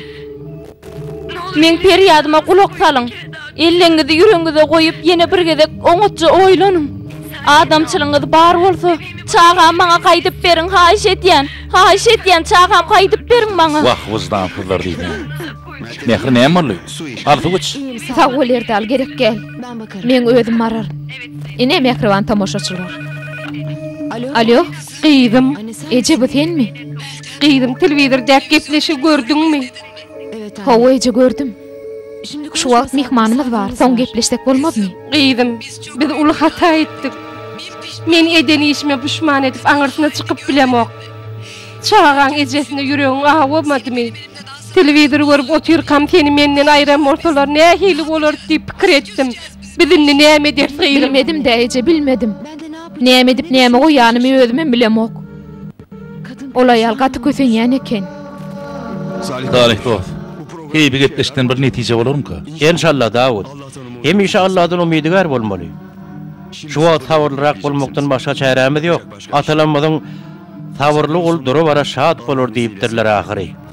Speaker 8: Meň perýadyma gulak salyň. Elleňizi ýüregiňize goýup, ýene bir gezek oňatja oýlanyň. Adamçylygyňyz bar bolsa, çagamy maňa gaýdyp beriň, haýyş edýän! Haýyş edýän, çagamy gaýdyp beriň maňa! Wah, wyjdansyzlar
Speaker 3: diýýän. Mähri näme boldy? Arzuw iç. Sag bol, Erdal,
Speaker 5: gerek däl. Meň özüm bararyn. Ine, mähriban tomaşaçylar. Alýo, gyzym, eje, bu senmi? Gyzym,
Speaker 4: telewizordäki gepleşigi gördüňmi?
Speaker 7: Hawa, eje, gördüm.
Speaker 5: Şu
Speaker 7: wagt myhmanymyz
Speaker 5: bar, soň gepleşsek bolmazmy? Gyzym,
Speaker 4: biz uly hata etdik. Men eden işime puşman edip, aňyrsyna çykyp bilemok. Çagaň ejesine ýüregiň awamadymy? Telewizor görüp otyrkam, seni menden aýran bolsalar, nähili bolardy diýip pikir etdim. Biz indi näme ederis, gyzym? Bilmedim-dä, eje,
Speaker 5: bilmedim. Näme
Speaker 7: edip, näme goýanymy
Speaker 5: özümem bilemok.
Speaker 7: Ol aýal gaty
Speaker 5: kösenýän eken.
Speaker 3: Salyh dost. Heý bi gepleşikden bir netije bolarmyka. Enşalla Dawud.
Speaker 1: Hemişe Alladan umydygär bolmaly. Şu wagt sabyrlyrak bolmakdan başga çärämiz ýok. Atalarymyzyň Sabyrly gul dura-bara şat bolar diýipdirler ahyry.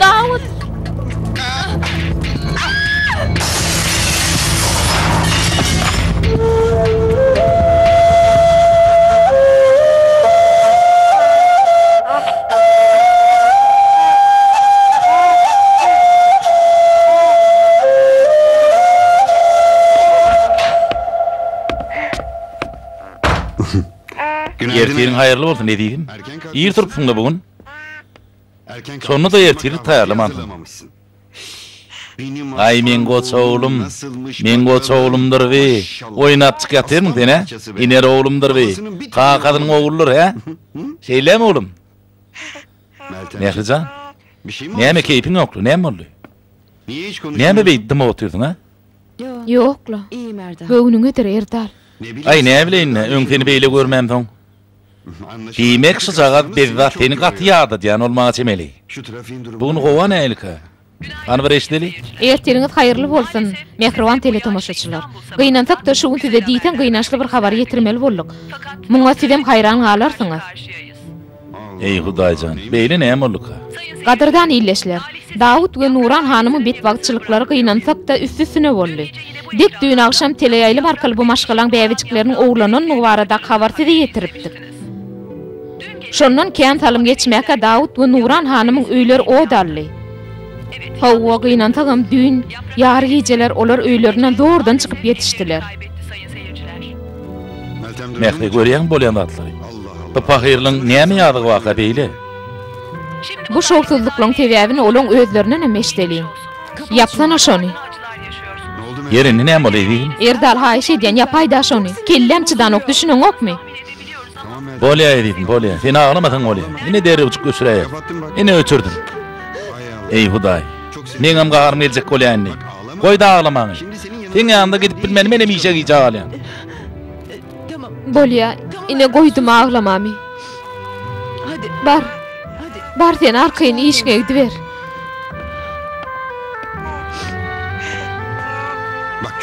Speaker 3: Dawut! Ertiriň haýyrly bolsun ezizim. Ir turupsyň-da
Speaker 6: bu gün. Şonda-da ertirlik
Speaker 3: taýýarlamansyň. Aý, meň goç oglum, meň goç oglumdyr bi, oýnap çyk ýatyrmyň sen, hä? Iner oglumdyr bi, kakasynyň ogludyr, hä? Şeýlemi, oglum? Mähri jan, näme keýpiň ýokly, näme boldy? Näme beýdip dymyp otyrsyň, hä? Ýok-la,
Speaker 7: göwnüňedir, Erdal.
Speaker 5: Aý, näbileýin-dä,
Speaker 3: öň seni beýle görmämsoň. Diýmek şujagaz bezzat seni gaty ýadadýan bolmaga çemeli. Bu gün gowa nähilka? Hany bir eşideli. Ertiriňiz haýyrly
Speaker 5: bolsun, mähriban teletomaşaçylar! Gynansak-da, şu gün size diýseň gynançly bir habary ýetirmeli bolduk. Muňa sizem haýran galarsyňyz.
Speaker 3: Eý, Hudaý jan, beýle näme bolduka? Gadyrdan
Speaker 5: ildeşler! Dawut we Nuran hanymyň betbagtçylyklary gynansak-da, üsti-üstüne boldy. Dek düýn agşam teleýaýlym arkaly bu maşgalaň bäbejikleriniň ogurlanandygy baradaky habary size ýetiripdik. Şondan kän salym geçmäkä Dawut we Nuran hanymyň öýleri ot aldy. Hawa, gynansagam düýn ýary gijeler olar öýlerinden zordan çykyp ýetişdiler.
Speaker 3: Mähri, görýäňmi bolýan zatlary? Bu pahyrylyň näme ýazygy barka beýle?
Speaker 5: Bu şowsuzlyklaryň sebäbini olaň özlerindenem eşideliň. Ýapsana şony.
Speaker 3: Ýer indi näme boldy ezizim? Erdal haýyş edýän
Speaker 5: ýapaýda şony. Kelläm çydanok düşüneňokmy?
Speaker 3: Bolýa ezizim bolýa. Sen aglamasaň bolýa. Ine derewjik öçüräýer. Ine öçürdim. Eý hudaý. Meňem gaharym geljek bolýa indi. Goýda aglamaňy. Seň ýanyňda gidip bilmeni menem işe gijä galýan. Bolýa,
Speaker 5: ine, goýdum aglamamy.
Speaker 7: Bar,
Speaker 5: bar
Speaker 7: sen arkaýyn
Speaker 5: işiňe gidiber.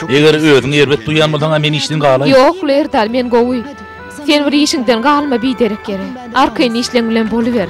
Speaker 3: Eger özüňi erbet duýýan bolsaň-a men işden galaýyn. Ýok, Lerdal, men
Speaker 4: gowy. Sen bir işiňden galma biderek ýere. Arkaýyn işleň bilen boluber.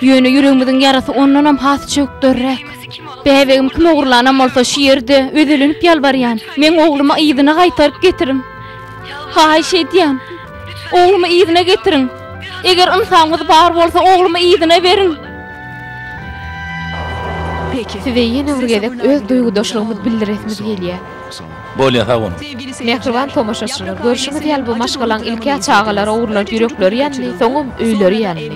Speaker 5: Ýöne ýüregimiziň ýarasy ondanam has çökderräk. Bäbegim kim ogurlanam bolsa, şu ýerde özelenip ýalbarýan, meň oglumy yzyna gaýtaryp getiriň. Haýyş edýän, oglumy yzyna getiriň. Eger ynsamyňyz bar bolsa, oglumy yzyna beriň.
Speaker 7: Size ýene bir gezek
Speaker 4: öz duýgudaşlygymyz bildiresimiz gelýär. Bolýa sag
Speaker 3: boluň. Mähriban
Speaker 4: tomaşaçylar, görşüňiz ýaly bu maşgalaň ilk-ä çagalar ogurlady ýürekleri ýandy, soňam öýleri ýandy.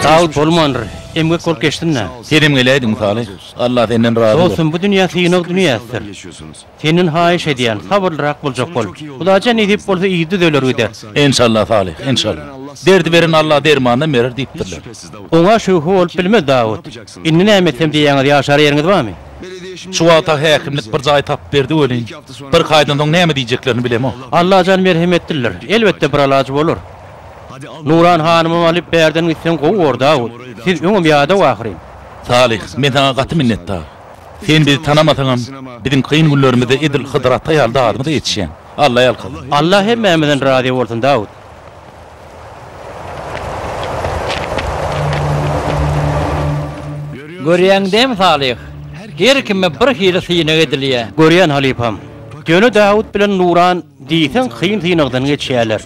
Speaker 1: Sag bol bolmandyr, emgek bolup geçsin-dä. Senem geläýdi
Speaker 3: mysaly. Allah senden razy bolsun. Dostum bu dünýä synag
Speaker 1: dünýäsidir. Senden haýyş edýän, sabyrlyrak boljak bol. Hudaýjan nesip bolsa yz düzeler gider. Enşalla Salyh,
Speaker 3: enşalla. Derdi beren Alla dermanynam berer diýipdirler. Oňa şübhe
Speaker 1: bolup bilmez Dawut. Indi näme etsem diýýäňiz ýaşar ýeriňiz barmy? Şu wagta
Speaker 3: häkimlik bir jaý tapyp berdi welin, bir kaýdan soň näme diýjeklerini bilemok. Allajan merhemetlidir.
Speaker 1: Elbetde bir alaç bolar. Nuran hanymam alyp bärden gitseň gowy bor Dawut. Siz öňem ýadaw ahyryn. Salyh, men
Speaker 3: saňa gaty minnetdar. Sen bizi tanamasaňam, biziň kyn günlerimizde edil Hydyr ata ýaly dadymyza ýetişýäň. Alla ýalkasyn. Allah hemmämizden
Speaker 1: razy bolsun Dawut.
Speaker 2: Görýäňdämi Salyh, her kime bir hili synag edilýä. Görýän halypam.
Speaker 1: Ýöne Dawut bilen Nuran Diýseň kyn synagdan geçýäler.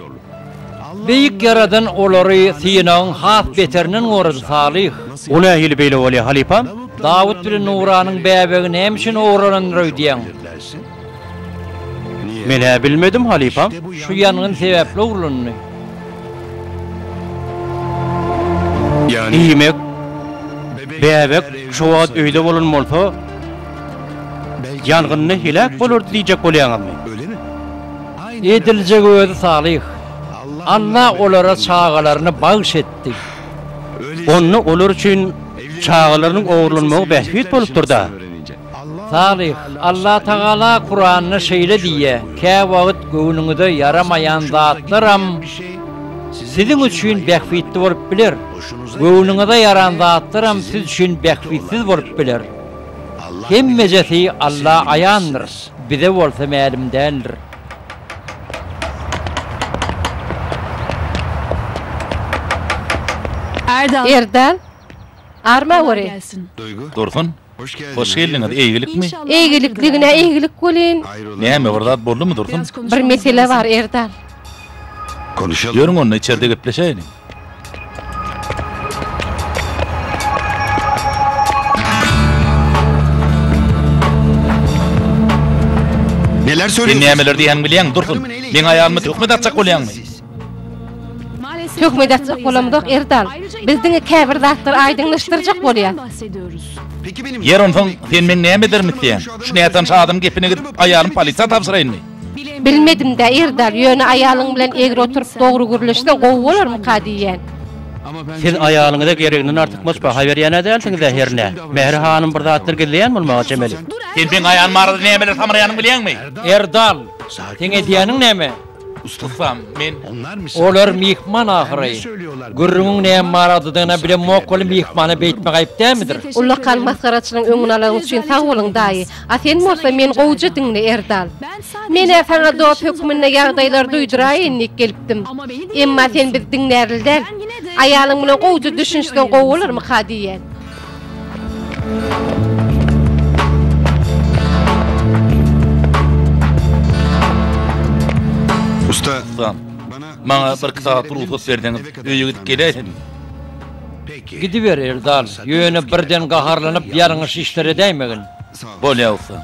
Speaker 1: Beýik
Speaker 2: Ýaradan olary synagyň has beterinden gorady, Salyh. Bu nähili beýle
Speaker 1: bolýar, halypam? Dawut bilen
Speaker 2: Nuranyň bäbegi näme üçin ogurlanandyr öýdýäň?
Speaker 1: Men-ä bilmedim, halypam. Şu ýangyn
Speaker 2: sebäpli ogurlandy.
Speaker 1: Diýmek, bäbek şo wagt öýde bolan bolsa, Ýangynda heläk bolardy diýjek bolýaňyzmy? Ediljegi
Speaker 2: özi salyh. Alla olara çagalaryny bagyş etdi.
Speaker 1: Onda olar üçin çagalarynyň ogurlanmagy bähbit bolupdyr-da. Salyh,
Speaker 2: Alla Tagala Kuranda şeýle diýýär, Käwagt göwnüňize ýaramaýan zatlaram siziň üçin bähbitli bolup biler, göwnüňize ýaran zatlaram siz üçin bähbitsiz bolup biler. Hemmejesi Alla aýandyr, bize bolsa mälim däldir.
Speaker 4: Erdal, arma göreý. Dursun,
Speaker 3: hoş geldiňiz, eýgilikmi? Eýgilik diňe
Speaker 4: eýgilik welin. Näme, bir zat
Speaker 3: boldumy, Dursun? Bir mesele bar,
Speaker 4: Erdal.
Speaker 6: Ýörüň onda, içerde
Speaker 3: gepleşäýeliň.
Speaker 6: Sen nämeler
Speaker 3: diýýäniňi bilýäňmi,
Speaker 6: Dursun?
Speaker 3: Meň aýalyma töhmet atjak bolýaňmy? Töhmet
Speaker 4: atjak bolamzok, Erdal. Biz diňe käbir zatlary aýdyňlaşdyrjak bolýarys.
Speaker 6: Ýer, onsoň, sen meň
Speaker 3: näme ederimi isleýäň? Şu nätanyş adamyň gepine gidip, aýalymy polisiýa tabşyraýynmy? Bilmedimdä
Speaker 4: Erdal, ýöne aýalyň bilen egri oturyp dogry gürleşseň gowy bolarmyka diýýän. Siz
Speaker 1: aýalyňyza gereginden artykmaç baha berýän-ä dälsiňiz-ä hernä? Mähri hanym bir zatlar gizleýän bolmaga çemeli. Sen meň aýalym
Speaker 3: barada nämeler samraýanyňy bilýäňmi? Erdal,
Speaker 2: seň edýäniň näme? Ustam,
Speaker 3: men. Olar
Speaker 2: myhman ahyry. Gürrüňiň näme baradadygyny-a bilemok weli myhmana beýtmek aýyp dälmidir? Ullakan masgaraçylygyň
Speaker 4: öňüni alaň üçin sag boluň daýy. A sen bolsa meni gowja diňle, Erdal. Men-ä saňa dost hökmünde ýagdaýlary duýduraýyn diýip gelipdim. Emma sen bizi diňlärli däl. Aýalyň bilen gowja düşünişseň gowy bolarmyka diýýän.
Speaker 6: Ussam,
Speaker 3: maňa bir iki sagat rugsat berseňiz, öýe gidip geläýsedim.
Speaker 2: Gidiber, Erdal, ýöne birden gaharlanyp ýalňyş işlere dämegin. Bolýagsa.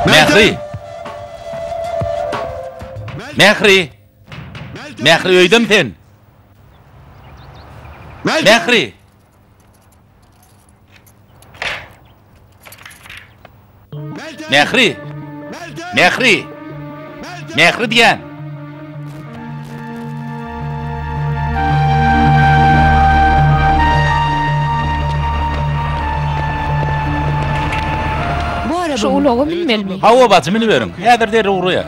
Speaker 3: Mähri! Mähri! Mähri öýdemi sen? Mähri! Mähri! Mähri! Mähri diýen!
Speaker 8: Şu ulaga minmelimi? Hawa, bacym, miniberiň.
Speaker 3: Häzir derrew urýar.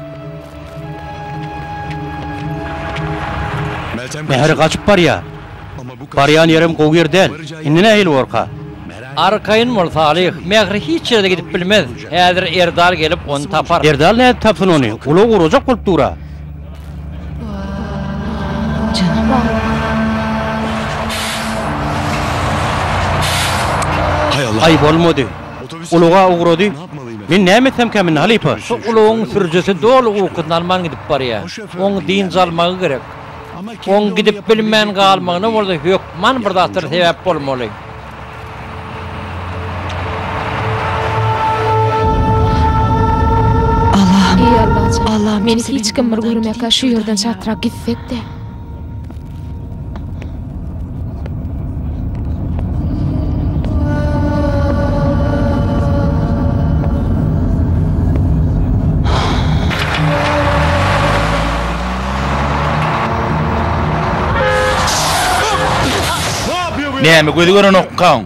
Speaker 1: Mähri gaçyp barýar. Barýan ýerim gowy ýer däl. Indi nähili borka? Arkaýyn
Speaker 2: bol, Salyh. Mähri hiç ýere-de gidip bilmez. Häzir Erdal gelip, ony tapar. Erdal nädip tapsyn ony?
Speaker 1: Ulag urajak bolup dur-a.
Speaker 6: Aý, bolmady.
Speaker 1: Ulag-a ugrady. Men näme etsemkä Minni halypa? Şu ulagyň sürüjisi
Speaker 2: doly ukyny alman gidip barýar. Oň dynç almagy gerek. Oň gidip bilmän galmagyna bolsa hökman bir zatlar sebäp bolmaly.
Speaker 8: Alla, meni hiç kim bir görmekä şu ýerden çatrap gitsek-de.
Speaker 3: Näme gözi görenokkaň?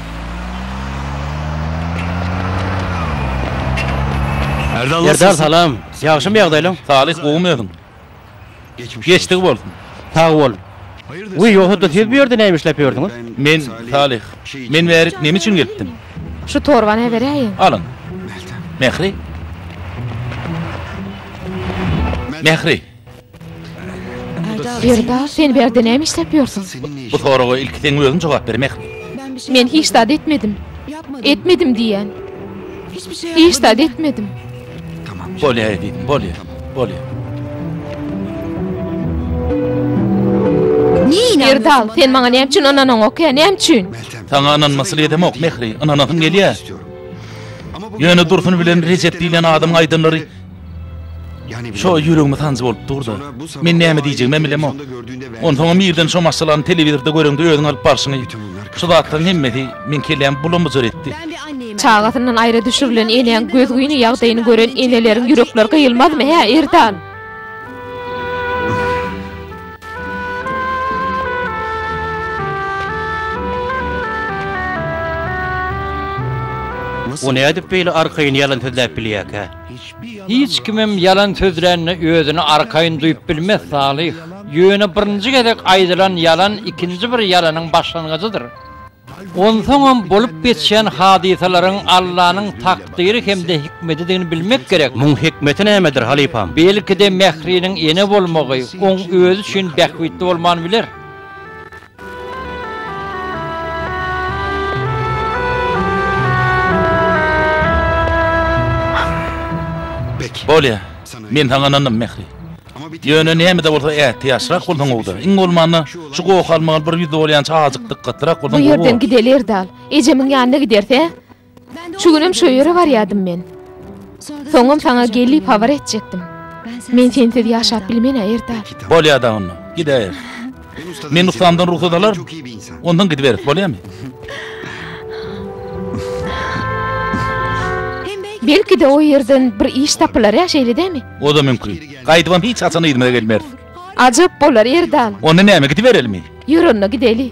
Speaker 1: Erdal salam. Ýagşymy ýagdaýlaň? Talyh gowymy öziň?
Speaker 3: Geçdigi bolsun. Sag bol.
Speaker 1: Wiý ýogsada siz bu ýerde näme işläp ýördüňiz? Men Talyh.
Speaker 3: Men bärik näme üçin gelipdim? Şu torbany
Speaker 8: äberäýiň. Alyň.
Speaker 3: Mähri. Mähri.
Speaker 8: Gerda, sen bu ýerde näme işläp ýörsüň? Bu soraga ilki
Speaker 3: seň özüň jogap ber, Mehri. Men hiç zat
Speaker 8: etmedim. Etmedim diýýän. Hiç zat etmedim. Bolýar,
Speaker 3: ezizim, bolýar. Bolýar.
Speaker 8: Gerda, sen maňa näme üçin ynanaňok, hä? Näme üçin? Saňa ynanmasly
Speaker 3: edemok, Mehri. Ynanasyň gelýär. Ýöne Dursun bilen Rejep diýlen adamyň aýdanlary Şo ýüregime sanjy bolup dur-da, men näme diýjegimem bilemok. Onsoňam irden şo maşgalany telewizorda göreňde özüň alyp barşyňy. Şu zatlaryň hemmesi meň kellämi bula-mujar etdi. Çagasyndan
Speaker 8: aýra düşürilen enäň gözgyny ýagdaýyny gören eneleriň ýürekleri gyýylmazmy, hä, Erdan?
Speaker 1: O nädip beýle arkaýyn ýalan sözläp bilýärkä? Hiç
Speaker 2: kimem ýalan sözlände özüni arkaýyn duýup bilmez, Salyh. Ýöne birinji gezek aýdylan ýalan ikinji bir ýalanyň başlangyjydyr. Onsoňam bolup geçýän hadysalaryň Allanyň takdyry hem-de hikmedidigini bilmek gerek. Muň hikmeti nämedir,
Speaker 1: halypam? Belki-de Mähriniň
Speaker 2: ene bolmagy oň özi üçin bähbitli bolman biler.
Speaker 3: Bolýa, men saňa ynandym, Mähri. Ýöne näme-de bolsa ätiýaçlyrak bolsaň gowy-da. Iň bolmanda, şu gohy almaga bir ýüz dolýança azajyk dykgatlyrak bolsaň gowy bolar. Bu ýerden gideli, Erdal.
Speaker 8: Ejemiň ýanyna gideris, hä? Şu günem şo ýere barýadym men. Soňam saňa gelip habar etjekdim. Men sensiz ýaşap bilmen-ä erta. Bolýar dagy onda,
Speaker 3: gidäýeris. Men ussamdan rugsat alaryn. Ondan gidiberis, bolýamy?
Speaker 8: Belki-de o ýerden bir iş tapylar-ä, şeýle dämi? O-da mümkin.
Speaker 3: Gaýdybam hiç haçan yzyma gelmeris. Ajap bolar,
Speaker 8: Erdal. Onda näme, gidiberelimmi?
Speaker 3: Ýör onda, gideli.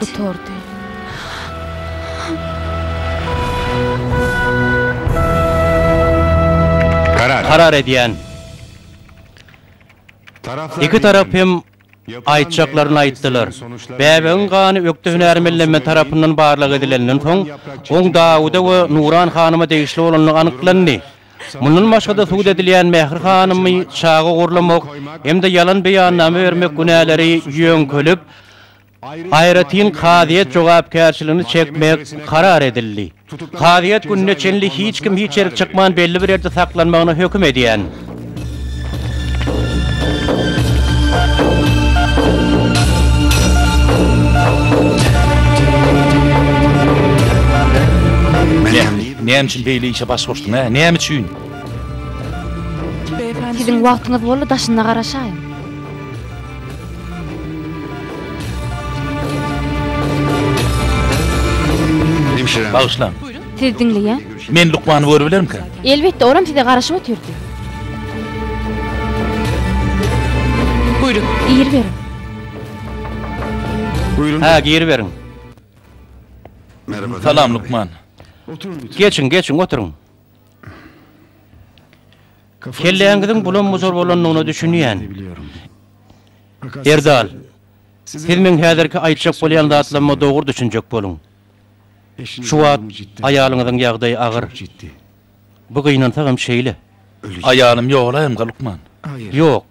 Speaker 8: Gutardy.
Speaker 1: Karar edýän. Iki tarap hem aýtjaklaryny aýtdylar. Bäbegiň gany ökde hünärmenlenme tarapyndan barlag edilenden soň, oň Dawuda we Nuran hanyma degişli bolandygy anyklandy. Mundan başga-da sud edilýän Mähri hanymy çaga gorlamak hem-de ýalan beýannama bermek günäleri ýöňkelip, aýratyn kazyýet jogapkärçiligini çekmek karar edildi. Kazyýet gününe çenli hiç kim hiç ýerik çykman belli bir ýerde saklanmagyna höküm edýän.
Speaker 3: Näme üçin beýle işe baş goşdyň hä? Näme üçin?
Speaker 8: Siziň wagtyňyz boldy daşynda garaşaýyň.
Speaker 3: Bagyşlaň. Siz
Speaker 8: diňleýäň? Men lukmany
Speaker 3: görübilerimkä? Elbetde, olam size
Speaker 8: garaşyp otyrdy. Buyurun.
Speaker 7: Gir beriň.
Speaker 6: Buyurun. Ha, gir beriň. Salam lukman.
Speaker 3: Geçiň,
Speaker 1: geçiň, oturyň. Kelläňiziň bulam-bujur bolandygyna düşünýän. Erdal, siz meň häzirki aýtjak bolýan zatlaryma dogry düşünjek boluň. Şu wagt aýalyňyzyň ýagdaýy agyr. Bu gynansa hem şeýle. Aýalym
Speaker 3: ýogalayamka, lukman? Ýok.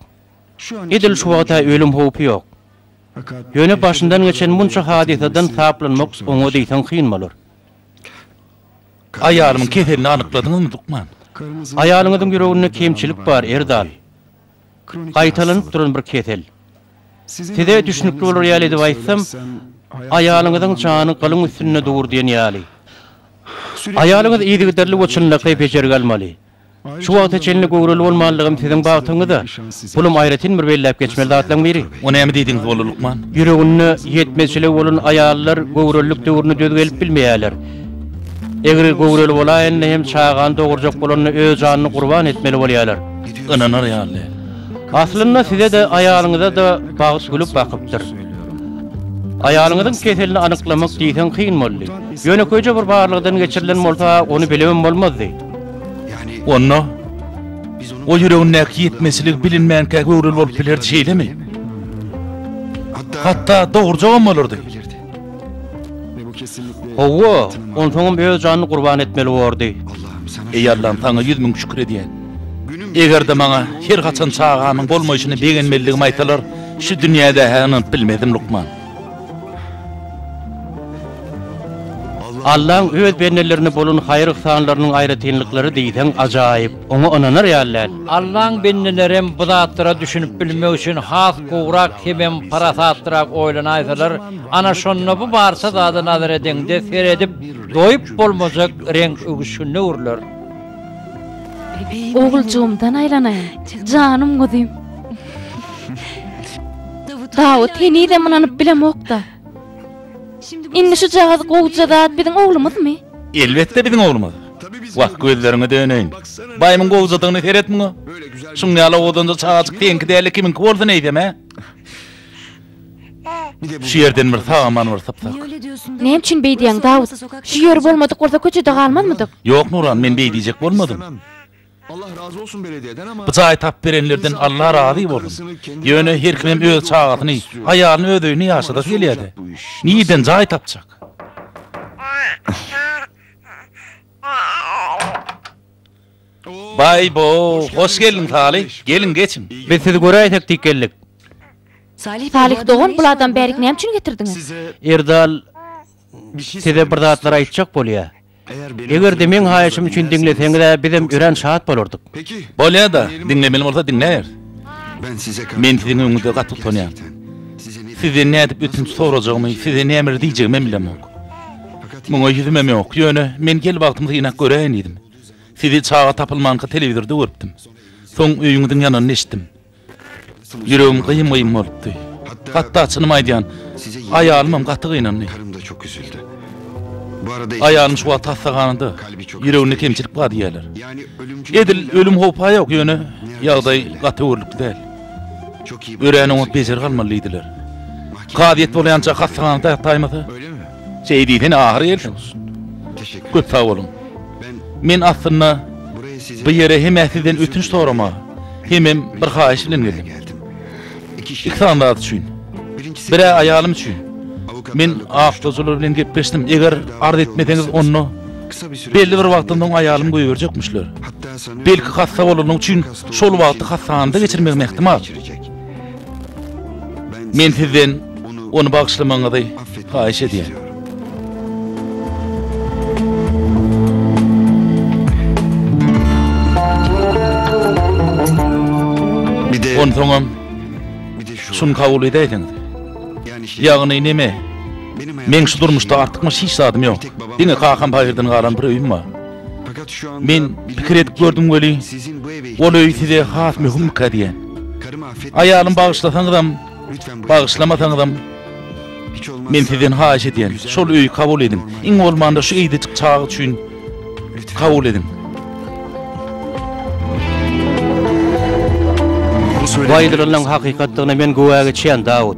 Speaker 1: Edil şu wagta ölüm howpy ýok. Ýöne başyndan geçen munça hadysadan saplanmak oňa diýseň kyn bolar.
Speaker 3: Aýalymyň keselini anykladyňyzmy, lukman? Aýalyňyzyň
Speaker 1: ýüreginde kemçilik bar, Erdal. Gaýtalanyp duran bir kesel. Size düşnükli bolar ýaly edip aýtsam, aýalyňyzyň jany gylyň üstünde dur diýen ýaly. Aýalyňyz yzygiderli we çynlakaý bejergi almaly. Şu wagta çenli göwreli bolmanlygym siziň bagtyňyz-a. Pulum aýratyn bir belläp geçmeli zatlaň biri. O näme diýdiňiz boldy
Speaker 3: lukman? Ýüreginde
Speaker 1: ýetmezçiligi bolan aýallar göwrelilik döwrüne döz gelip bilmeýärler. Egri göwreli bolaýanda hem çagany dogurjak bolanda öz janyny gurban etmeli bolýarlar. Ynanar ýaly
Speaker 3: däl. Aslynda
Speaker 1: size-de, aýalyňyza-da bagt gülüp bakypdyr. Aýalyňyzyň keselini anyklamak diýseň kyn boldy. Ýönekeýje bir barlagdan geçirilen bolsa ony bilemem bolmazdy.
Speaker 3: Onda, ol ýüregindäki ýetmezçiligi bilinmänkä göwreli bolup bilerdi, şeýlemi? Hatda dogurjagam bolardy.
Speaker 1: Hawa, onsoňam öz janyny gurban etmeli bordy. Eý Allam,
Speaker 3: Saňa ýüz müň şükür edýän. Eger-de maňa her haçan çagamyň bolmaýşyna begenmelidigimi aýtsalar, şu dünýäde-hä ynanyp bilmezdim, lukman.
Speaker 1: Allaň öz bendelerine bolan haýyr-yhsanlarynyň aýratynlyklary diýseň ajaýyp, oňa ynanar ýaly däl. Allaň bendelerem
Speaker 2: bu zatlara düşünip bilmek üçin has gowrak hemem parasatlyrak oýlanaýsalar, ana şonda bu barça zada nazar edeňde seredip doýup bolmajak reňk öwüşginine öwrüler.
Speaker 8: Oguljygymdan aýlanaýyn, janym guzym! Dawut henizem ynanyp bilemok-da. Indi şujagaz gowja zat biziň oglumyzmy? Elbetde biziň
Speaker 3: oglumyz. Wah, gözleriňe döneýin. Baýymyň gowjadygyna seret muňa. Şuň ýaly owadanja çagajyk seňki däl-de kimiňki bolsun eýsem-ä? Şu ýerden bir sag-aman bir sypsak. Näme üçin
Speaker 8: beýdýäň, Dawut? Şu ýeri bolmadyk bolsa köçede galmazmydyk? Ýok, Nuran, men
Speaker 3: beýdijek bolmadym. Allah
Speaker 6: razy bolsun belediyeden ama. Jaý tap berenlerden
Speaker 3: Allah razy bolsun. Ýöne her kimem öz çagasyny, aýalyny öz öýünde ýaşadasy gelýädä. Nirden jaý tapjak. Baý bo, hoş geldiň Saly. Geliň geçiň. Biz sizi göräýsek
Speaker 1: diýip geldik.
Speaker 8: Salyh dogan bul adam bärik näme üçin getirdiňiz. Erdal
Speaker 1: size bir zatlar aýtjak bolýa. Eger-de meň haýyşym üçin diňleseňiz-ä bizem örän şat bolardyk. Bolýa-da,
Speaker 3: diňlemeli bolsa diňläýeris.
Speaker 6: Men siziň öňüňizde gaty
Speaker 3: utanýan. Sizden nädip ötünç sorajagymy, size nämeler diýjegimem bilemok. Muňa ýüzümem ýok, ýöne men gel bagtymy synap göräýin diýdim. Sizi çaga tapylmanka telewizorda görüpdim. Soň öýüňiziň ýananyny eşitdim. Ýüregim gyýym-gyýym bolupdy. Hatda çynymy aýdýan, aýalymam gaty gynandy.
Speaker 6: Aýalym şu wagt hassahanada,
Speaker 3: ýüreginde kemçilik bar diýýärler.
Speaker 6: Edil ölüm howpa
Speaker 3: ýok, ýöne ýagdaý gaty öwürlikli däl.
Speaker 6: Örän oňat bejergi almaly
Speaker 3: diýdiler. Kazyýet bolaýança hassahanada ýataýmasa, Şeý
Speaker 6: diýsene ahyry
Speaker 3: gelşiňiz. Köp
Speaker 6: sag boluň.
Speaker 3: Men aslynda bu ýere hem-ä sizden ötünç sorama, hemem bir haýyş
Speaker 6: bilen
Speaker 3: geldim. Iki sany zat üçin. Bir-ä aýalym üçin. Men awtoçylar bilen gepleşdim, eger arz etmeseňiz onda belli bir wagtdan soň aýalymy goýberjekmişler. Belki hassa bolany üçin şol wagty hassahanada geçirmegim ähtimal. Men sizden ony bagyşlamagyňyzy haýyş edýän. Onsoňam şuny kabul edäýseňiz. Ýagny näme? Meň şu durmuşda artykmaç hiç zadym ýok. Diňe kakam paýhyrdan galan bir öýüm bar. Men pikir edip gördüm weli, ol öý size has möhümmikä diýen. Aýalym bagyşlasaňyzam, bagyşlamasaňyzam, men sizden haýyş edýän, şol öýi kabul ediň, iň bolmanda şu eýdejik çaga üçin kabul ediň.
Speaker 1: Bu aýdylanyň hakykatdygyna men güwä geçýän, Dawut.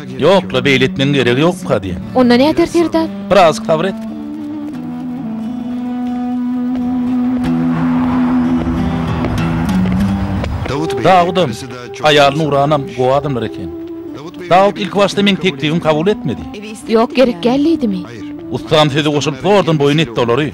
Speaker 4: Ýok-la, beýle
Speaker 3: etmegiň geregi ýokka, diýen. Onda näder, serdar?
Speaker 4: Biraz sabr et.
Speaker 3: Dawudam, aýaly Nuranam gowy adamlar eken. Dawud ilkibaşda meň teklibimi kabul etmedi. Ýok, gerekgäl
Speaker 4: diýdimi? Ussam sözi
Speaker 3: goşulyp zordan boýun etdi olary.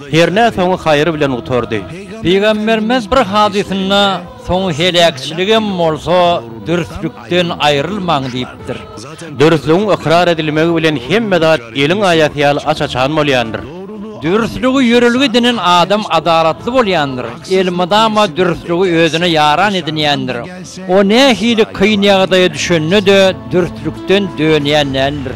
Speaker 1: Hernä soňy haýyr bilen gutardy. Pygamberimiz
Speaker 2: bir hadysynda soňy heläkçiligem bolsa dürslükden aýrylmaň diýipdir. Dürslügiň
Speaker 1: ykrar edilmegi bilen hemme zat eliň aýasy ýaly aç-açan bolýandyr. Dürslügi
Speaker 2: ýörelge edinen adam adalatly bolýandyr, elmydama dürslügi özüne ýaran edinýändir. O nähili kyn ýagdaýa düşende-de dürslükden dönýän däldir.